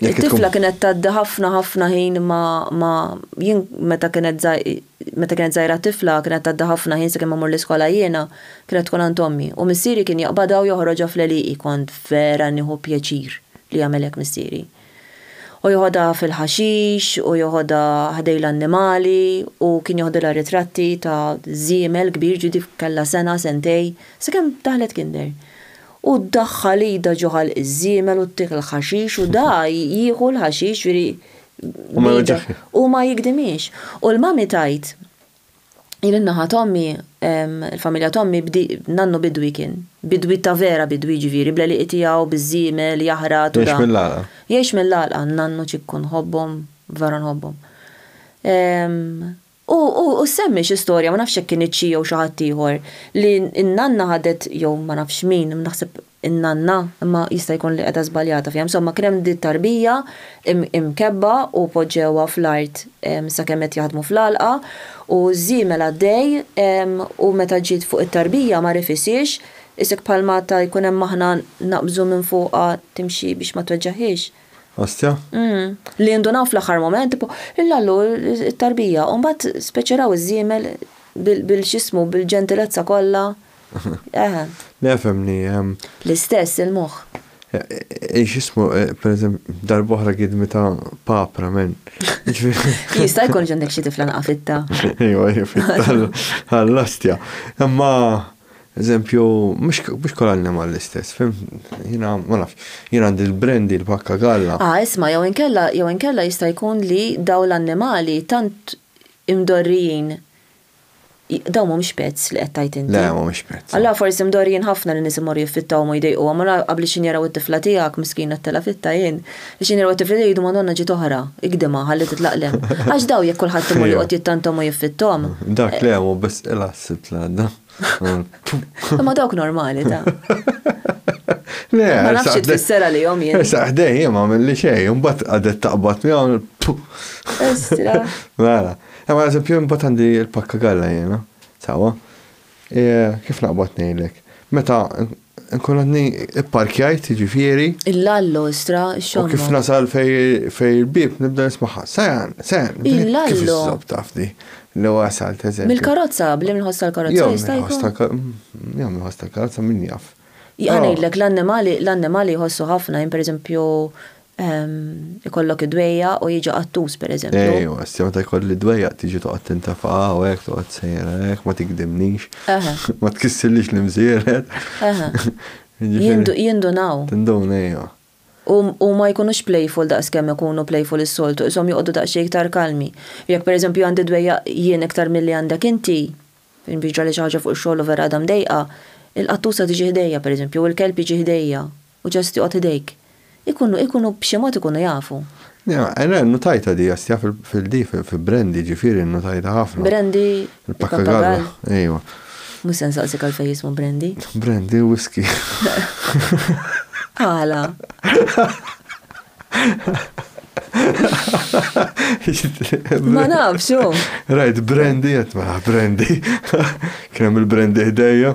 Speaker 1: It-tifla kienet tgħaddi ħafna ħafna ħin ma ma jien meta kienet meta kienet żgħira tifla kienet tgħaddi ħafna ħin sakemm mmur l-iskola jiena kienet tkun għand ommi u missieri kien jaqbadha u joħroġha fl-għelieqi kont vera nieħu pjaċir li jagħmel hekk missieri. U joħodha fil-ħaxix u joħodha ħdej l-annimali u kien joħdilha ritratti ta' żiemel kbir ġieli kellha sena sentej sakemm daħlet kinder. u ddaħħal idha ġo ħalq iż-żiemel u ttiekl l-ħaxix u da jieħu l-ħaxix, jiġifieri b'idha, u ma jigdimhiex. U l-mami tgħid, Jien in-naħa t'ommi, il-familja t'ommi nannu bidwi kien, bidwi ta' vera bidwi jiġifieri bl-għelieqi tiegħu, biż-żiemel, jaħrat u da. Jgħix mill-għalqa. Jgħix mill-għalqa, nannu ċikku nħobbhom, vera nħobbhom. U u semmi xi storja, ma nafx jekk kinitx hi jew xi ħadd ieħor, li n-nanna ħadet jew ma nafx min, naħseb in-nanna, imma jista' jkun li qiegħda żbaljata fiha, insomma kien hemm din tarbija imkebbha u poġġewha fl-art sakemm qed jaħdmu fl-għalqa u ż-żiemel għaddej u meta ġiet fuq it-tarbija ma rifisiex, isek bħalma ta' jkun hemm maħna naqbżu minn fuqha timxi biex ma tweġġagħhiex. Ostja? Mhm. Li jindunaw fl-aħħar mument, tipo, il-lallu, it-tarbija, u mbagħad speċeraw iż-żiemel bil-x'ismu, bil-ġentilezza kollha. Eħe. Le fehmni. L-istess il-moħħ. Ej, x'ismu, pereżempju, darb'oħra gidmi ta' papra, men. Jista' jkun ġendek xi tifla naqafitta. Ejwa, fitta għall-ostja. Imma Eżempju, mhux kull annimal l-istess, fim? Jiena ma nafx, jiena għandi l-brandy, l-pakka galla. Ah, isma' jew inkella jew inkella jista' jkun li dawn l-annimali tant imdorrijin dawn mhumiex pets li qed tgħid inti? Le, mhumiex pets. Allura forsi mdorrijin ħafna li nies imorru jiffittawhom u jdejquhom, allura qabliexin jaraw it-tifla tiegħek miskina ttelgħa fit-tajn, Biex jinirwa t-tifel jgħidu Madonna ġiet oħra, igdimha, ħalli titlaq 'l hemm. Għax dawn jekk kulħadd imur joqgħod jittantom u jiffitthom. Dak le hu biss qilgħa s-sibt l-għadda. Imma dawk normali ta. Le, Ma nafx xi tfisser għalihom jien. Issa ħdej jien ma għamilli xejn, imbagħad qagħdet taqbad miegħu. Istra. Mela. Imma eżempju imbagħad għandi l-pakka galla jiena. Sawa. Kif naqbad ngħidlek? Meta nkun għadni ipparkjajt, jiġifieri. Il-lallo, istra, xogħol. U kif nasal fej il-bib nibda nismaħħa. Sajan, sajan. Il-lallo. Kif taf di? Li wasal teżem. Mill-karozza, blim il-ħosta l-karozza. Jom il-ħosta l-karozza min jaf. Jgħanajdlek l-annimali, l-annimali jħossu ħafna, jim per eżempju, ikollok id-dwejja u jiġi qattus per eżempju. Ej, u għassi meta jkolli id-dwejja tiġi toqgħod tintafa' u hekk toqgħod sejra hekk ma tikdimnix. Ma tkissillix l-imżiered. Jindunaw. Tindun ejja. U ma jkunux playful daqs kemm ikunu playful is-soltu, ishom joqogħdu daqsxejn iktar kalmi. Jekk per eżempju għandi d-dwejja jien iktar milli għandek inti, jien jiġrali xi ħaġa fuq ix-xogħol u vera għadha mdejqa, il-qattusa tiġi ħdejja per eżempju, jew il-kelb jiġi ħdejja. U ġast joqgħod idejk. Ikunu, ikunu, b'xi mod ikunu jafu. Ja, le, nnutajtha di, jast, ja, fil-fil di, fi Brandy, ġifieri nnutajtha ħafna. Brandy, il-pappagall. Ejwa. Mhux se nsaqsik għalfejn jismu Brandy. Brandy hu whisky. Għala? Ma nafx, hu. Rajt Brandy, qed mela Brandy. Kien hemm il-Brandy ħdejja.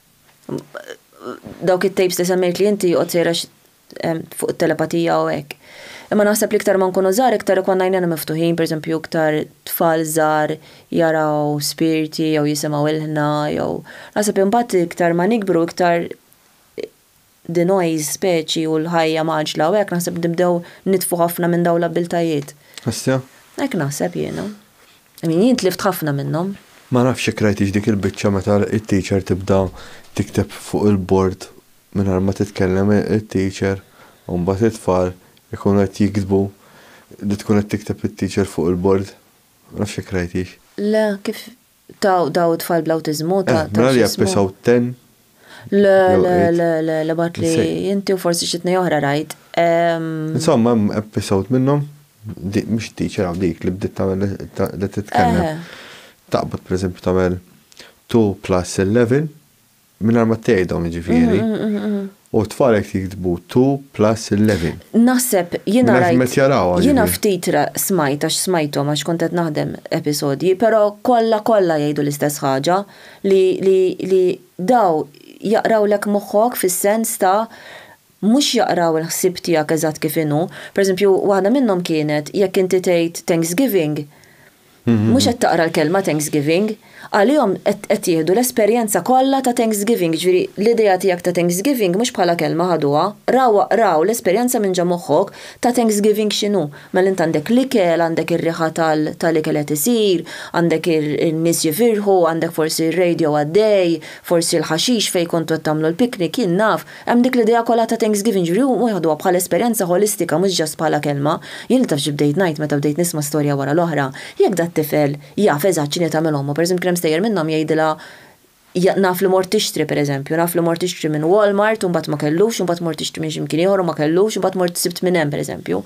Speaker 1: dawk it-tapes li semmejt li inti joqgħod sejrex fuq it-telepatija u hekk. Imma naħseb li iktar ma nkunu żgħar iktar ikonna jnejna miftuħin, pereżempju iktar tfal żgħar jaraw spirti jew jisimgħu ilħna jew naħseb imbagħad iktar ma nikbru iktar the noise speċi u l-ħajja mgħaġġla u hekk naħseb nibdew nitfu ħafna minn dawn l-abbiltajiet. Issa? Hekk naħseb jiena. I mean jien tlift ħafna minnhom. Ma nafx jekk rajtix dik il-biċċa meta it-teacher tibda tikteb fuq il-bord mingħajr ma titkellem it-teacher u mbagħad it-tfal ikunu qed jiktbu li tkun qed tikteb it-teacher fuq il-bord. Ma nafx jekk rajtix. Le, kif Ta' daw it-tfal bl-awtiżmu ta' x'ismu. Mela li jappesaw ten. Le, le, le, le, le bat li inti u forsi xi tnej oħra rajt. Insomma, hemm episode minnhom, mhux teacher hawn dik li bdiet tagħmel li titkellem. Taqbad pereżempju tagħmel 2 plus 11 Minar ma tgħidhom jiġifieri. U t-tfal qed jiktbu to plus 11. Naħseb jiena rajt. Jiena ftit smajt għax smajthom għax kont qed naħdem episodji, però kollha kollha jgħidu l-istess ħaġa li daw jaqrawlek moħħok fis-sens ta' mhux jaqraw il-ħsieb tiegħek eżatt kif inhu. Pereżempju waħda minnhom kienet jekk inti tgħid Thanksgiving, Mhux qed taqra l-kelma Thanksgiving. Għalihom qed jieħdu l-esperjenza kollha ta' Thanksgiving, jiġifieri l-idea tiegħek ta' Thanksgiving mhux bħala kelma ħaduha, rawha, raw l-esperjenza minn ġo moħħok ta' Thanksgiving x'inhu. Mela int għandek l-ikel, għandek ir-riħa tal-ikel qed isir, għandek in-nies jifirħu, għandek forsi r-radio għaddej, forsi l-ħaxix fejn kontu qed tagħmlu l-picnic, jien naf. Hemm dik l-idea kollha ta' Thanksgiving, jiġifieri huma jaħduha bħala esperjenza ħolistika mhux just bħala kelma. Jien li taf xi bdejt ngħid meta bdejt nisma' storja wara l-oħra, jekk dat-tifel jaf eżatt x'inhi tagħmel ommu, pereżempju kien hemm stejjer minnhom jgħidilha naf li mort tixtri pereżempju, naf li mort tixtri minn Walmart u mbagħad ma kellux u mbagħad mort tixtri minn xi mkien ieħor u ma kellux u mbagħad mort sibt minn hemm pereżempju.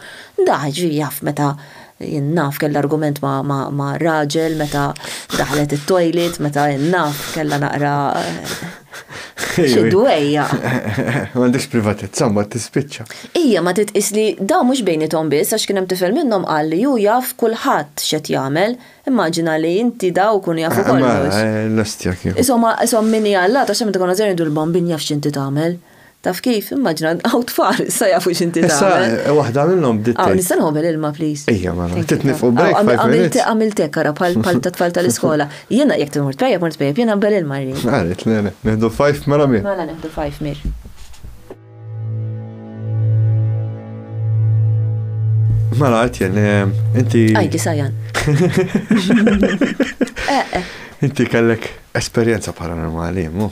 Speaker 1: Dak, jiġifieri jaf meta Jien naf kellha argument ma' raġel meta daħlet it-toilet, meta jien naf kellha naqra xi dwejja. M'għandix privatezza ma tispiċċa. Ija ma titqis li dawn mhux bejniethom biss għax kien hemm tifel minnhom qal li hu jaf kulħadd x'qed jagħmel. Immaġina li inti daw ikunu jafu kollox. L-ostja kieku. Ishom min hi allat għax hemm meta konna żgħarin ngħidu l-bambin jaf x'inti tagħmel. Taf kif, immaġna, għaw tfal, sa jafu xinti ta' Issa, eh, waħda minnom bdiet. Għaw, nista' nħobel ilma, please. Ija, ma, mela, titnifqu break. Għamiltek, għamiltek, għara, pal pal ta' tfal tal-iskola. Jena, jek t-mur t-pajja, mur t-pajja, jena bel ilma rri. Għarit, le, le, neħdu fajf, mela mir. Mela, neħdu fajf mir. Mela, għatjen, eh, inti. Għajdi, sajan. Eh, eh. Inti kellek esperienza paranormali, mu?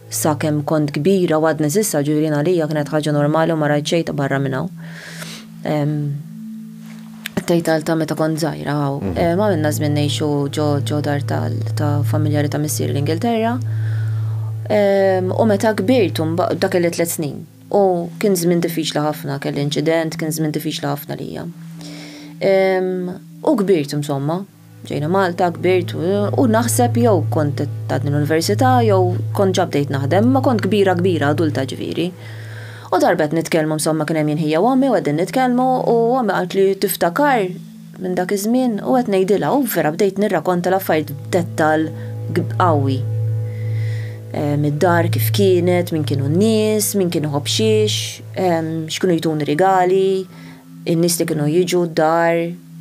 Speaker 1: Sakemm kont kbira u għadni żgħira ġifieri għalija kienet ħaġa normali u ma rajt xejn ta' barra minn hawn. Tgħid għal ta' meta kont żgħira hawn. Ma minna żmien ngħixu ġo dar ta' familjari ta' missieri l-Ingilterra. U meta kbirt dak kelli tliet snin. U kien żmien diffiċli ħafna, kelli inċident, kien żmien diffiċli ħafna għalija. U kbirt insomma. Ġejna Malta, kbirt u naħseb jew kont ta' din università jew kont ġa bdejt naħdem, ma kont kbira kbira adulta ġifieri. U darba qed nitkellmu insomma kien hemm jien ħija u ommi u qegħdin nitkellmu u ommi qaltli tiftakar minn dak iż-żmien u qed ngħidilha u vera bdejt nirrakonta l-affarijiet b'dettall qawwi. Mid-dar kif kienet, min kienu n-nies, min kien iħobb xiex, x'kienu jtuni rigali, In-nies li kienu jiġu d-dar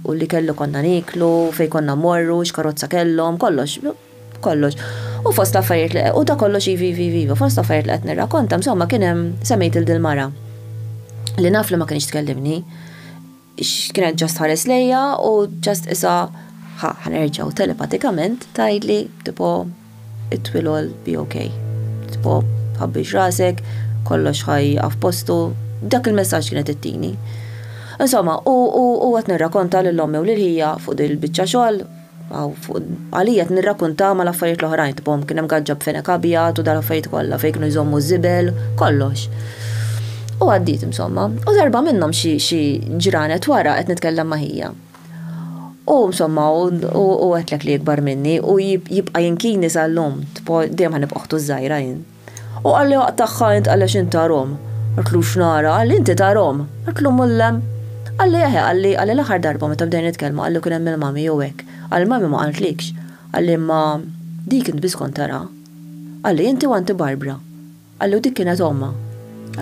Speaker 1: u l-ikel konna nieklu, fejn konna mmorru, x'karozza kellhom, kollox, kollox. U fost l-affarijiet li, u dak kollox iva, iva, iva, iva, fost l-affarijiet li qed nirrakkonta, insomma kien hemm, semmejt lil dil-mara, li naf li ma kinitx tkellimni, kienet ġast tħares lejja u ġast qisha, ħa, ħa nerġgħu, telepatikament tgħidli, tipo, it-twil għol be ok. Tipo, tħabbix rasek, kollox ħa jieqaf postu, dak il-messaġġ kienet ittini. Insomma, u u qed nirrakonta lil ommi u lil ħija fuq din il-biċċa xogħol, aw fuq għalija qed nirrakunta mal-affarijiet l-oħrajn, tipo kien hemm gaġġa b'fenek abjad u dal-affarijiet kollha fejn kienu jżommu ż-żibel, kollox. U għaddiet insomma, u darba minnhom xi xi ġranet wara qed nitkellem ma' ħija. U insomma, u għetlek li ikbar minni u jibqa jinkini sal-lum, tipo dejjem ħanib oħtu żgħira jien. U għalli waqt tagħha int għaliex int tarom. Għetlu x'nara, għalli inti tarom. Għetlu mullem. Għalli eħe, għalli għalli l-aħħar darba meta bdejna nitkellmu għallu kien hemm il-mami jew hekk. Għalli l-mami ma qaltlikx. Għalli imma dik int biss kont tara. Għalli inti u anti Barbara. Qallu dik kienet ommha.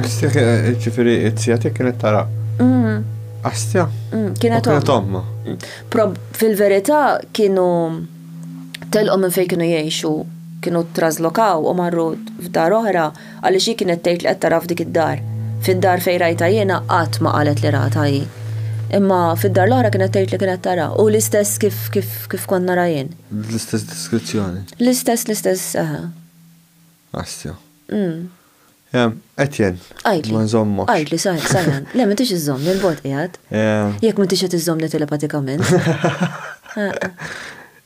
Speaker 1: Astja kienet ġifieri t-tija tiegħek kienet tara. Mm. Astja? Mm, kienet ommha. Mm. Fil-verità kienu telqu minn fejn kienu jgħixu kienu traslokaw u marru f'dar oħra għaliex hi kienet tgħid li qed tara f'dik id-dar. Fid-dar fejn rajta jiena qatt ma qalet li rata hi. Imma fid-dar l-oħra kienet tgħid li kienet tara u l-istess kif kif kif kont nara jien. L-istess deskrizzjoni. L-istess l-istess saħa. Astja. Etjen, Għidli. ma nżommok. Għidli, saħi, saħan. Le, ma tix iżomm, il-bot qiegħed. Jekk ma tix qed iżommni telepatikament.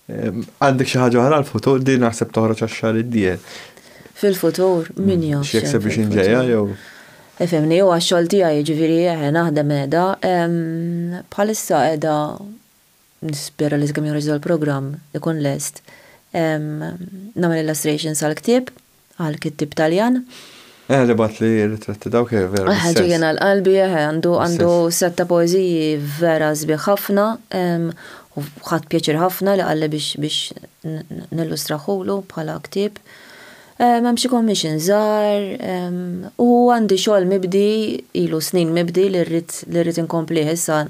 Speaker 1: Għandek xi ħaġa oħra l-futur din naħseb toħroġ għax-xahar id-dieħel. Fil-futur, min mm. jaf. X'jekseb biex inġejja jew. Efemni, u għax-xogħol tiegħi ġifieri eh, naħdem qiegħda. Bħalissa qiegħda Nispera li sakemm joħroġ dal-programm ikun lest. Nagħmel illustrations għall-ktieb, għall-kittieb Taljan. Eħe li bagħatli r-ritratti dawk eħe vera bis-sens. Eħe ġejjin għal qalbi eħe għandu għandu sett ta' poeżiji vera sbieħ ħafna u ħadt pjaċir ħafna li qalli biex biex nillustrahulu bħala ktieb. Hemm xi commissions żgħar u għandi xogħol mibdi ilu snin mibdi li rrid li rrid inkomplih issa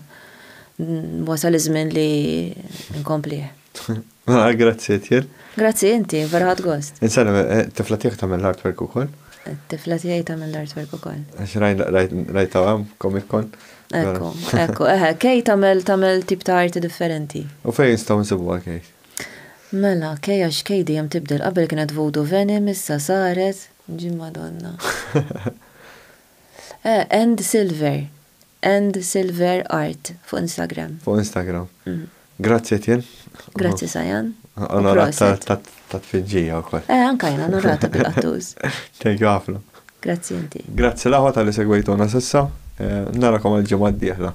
Speaker 1: Wasal iż-żmien li nkomplih. Ah, grazzi Etienne. Grazzi inti, vera ħadd gost. Insellem, eh, tifla tiegħek tagħmel l-artwork ukoll? Tifla tiegħi tagħmel l-artwork ukoll. Għax rajt hawn Comic Con. Ekku, ekku, eħe, eh, kej tagħmel tagħmel tip ta' arti differenti. U fejn nistgħu nsibuha kej? Mela, kej għax kej dejjem tibdel qabel kienet Voodoo Venom issa saret ġim Madonna. Eh, and Silver. And Silver Art fuq Instagram. Fuq Instagram. Grazzi Etienne. Grazzi Sajan. Onorat tat-tfiġġija wkoll. Eh, anke jien onorata bil-qattuż. Thank you ħafna. Grazzi inti. Grazzi l-aħwa talli segwejtuna s'issa. Narakom għall-ġimgħa d-dieħla.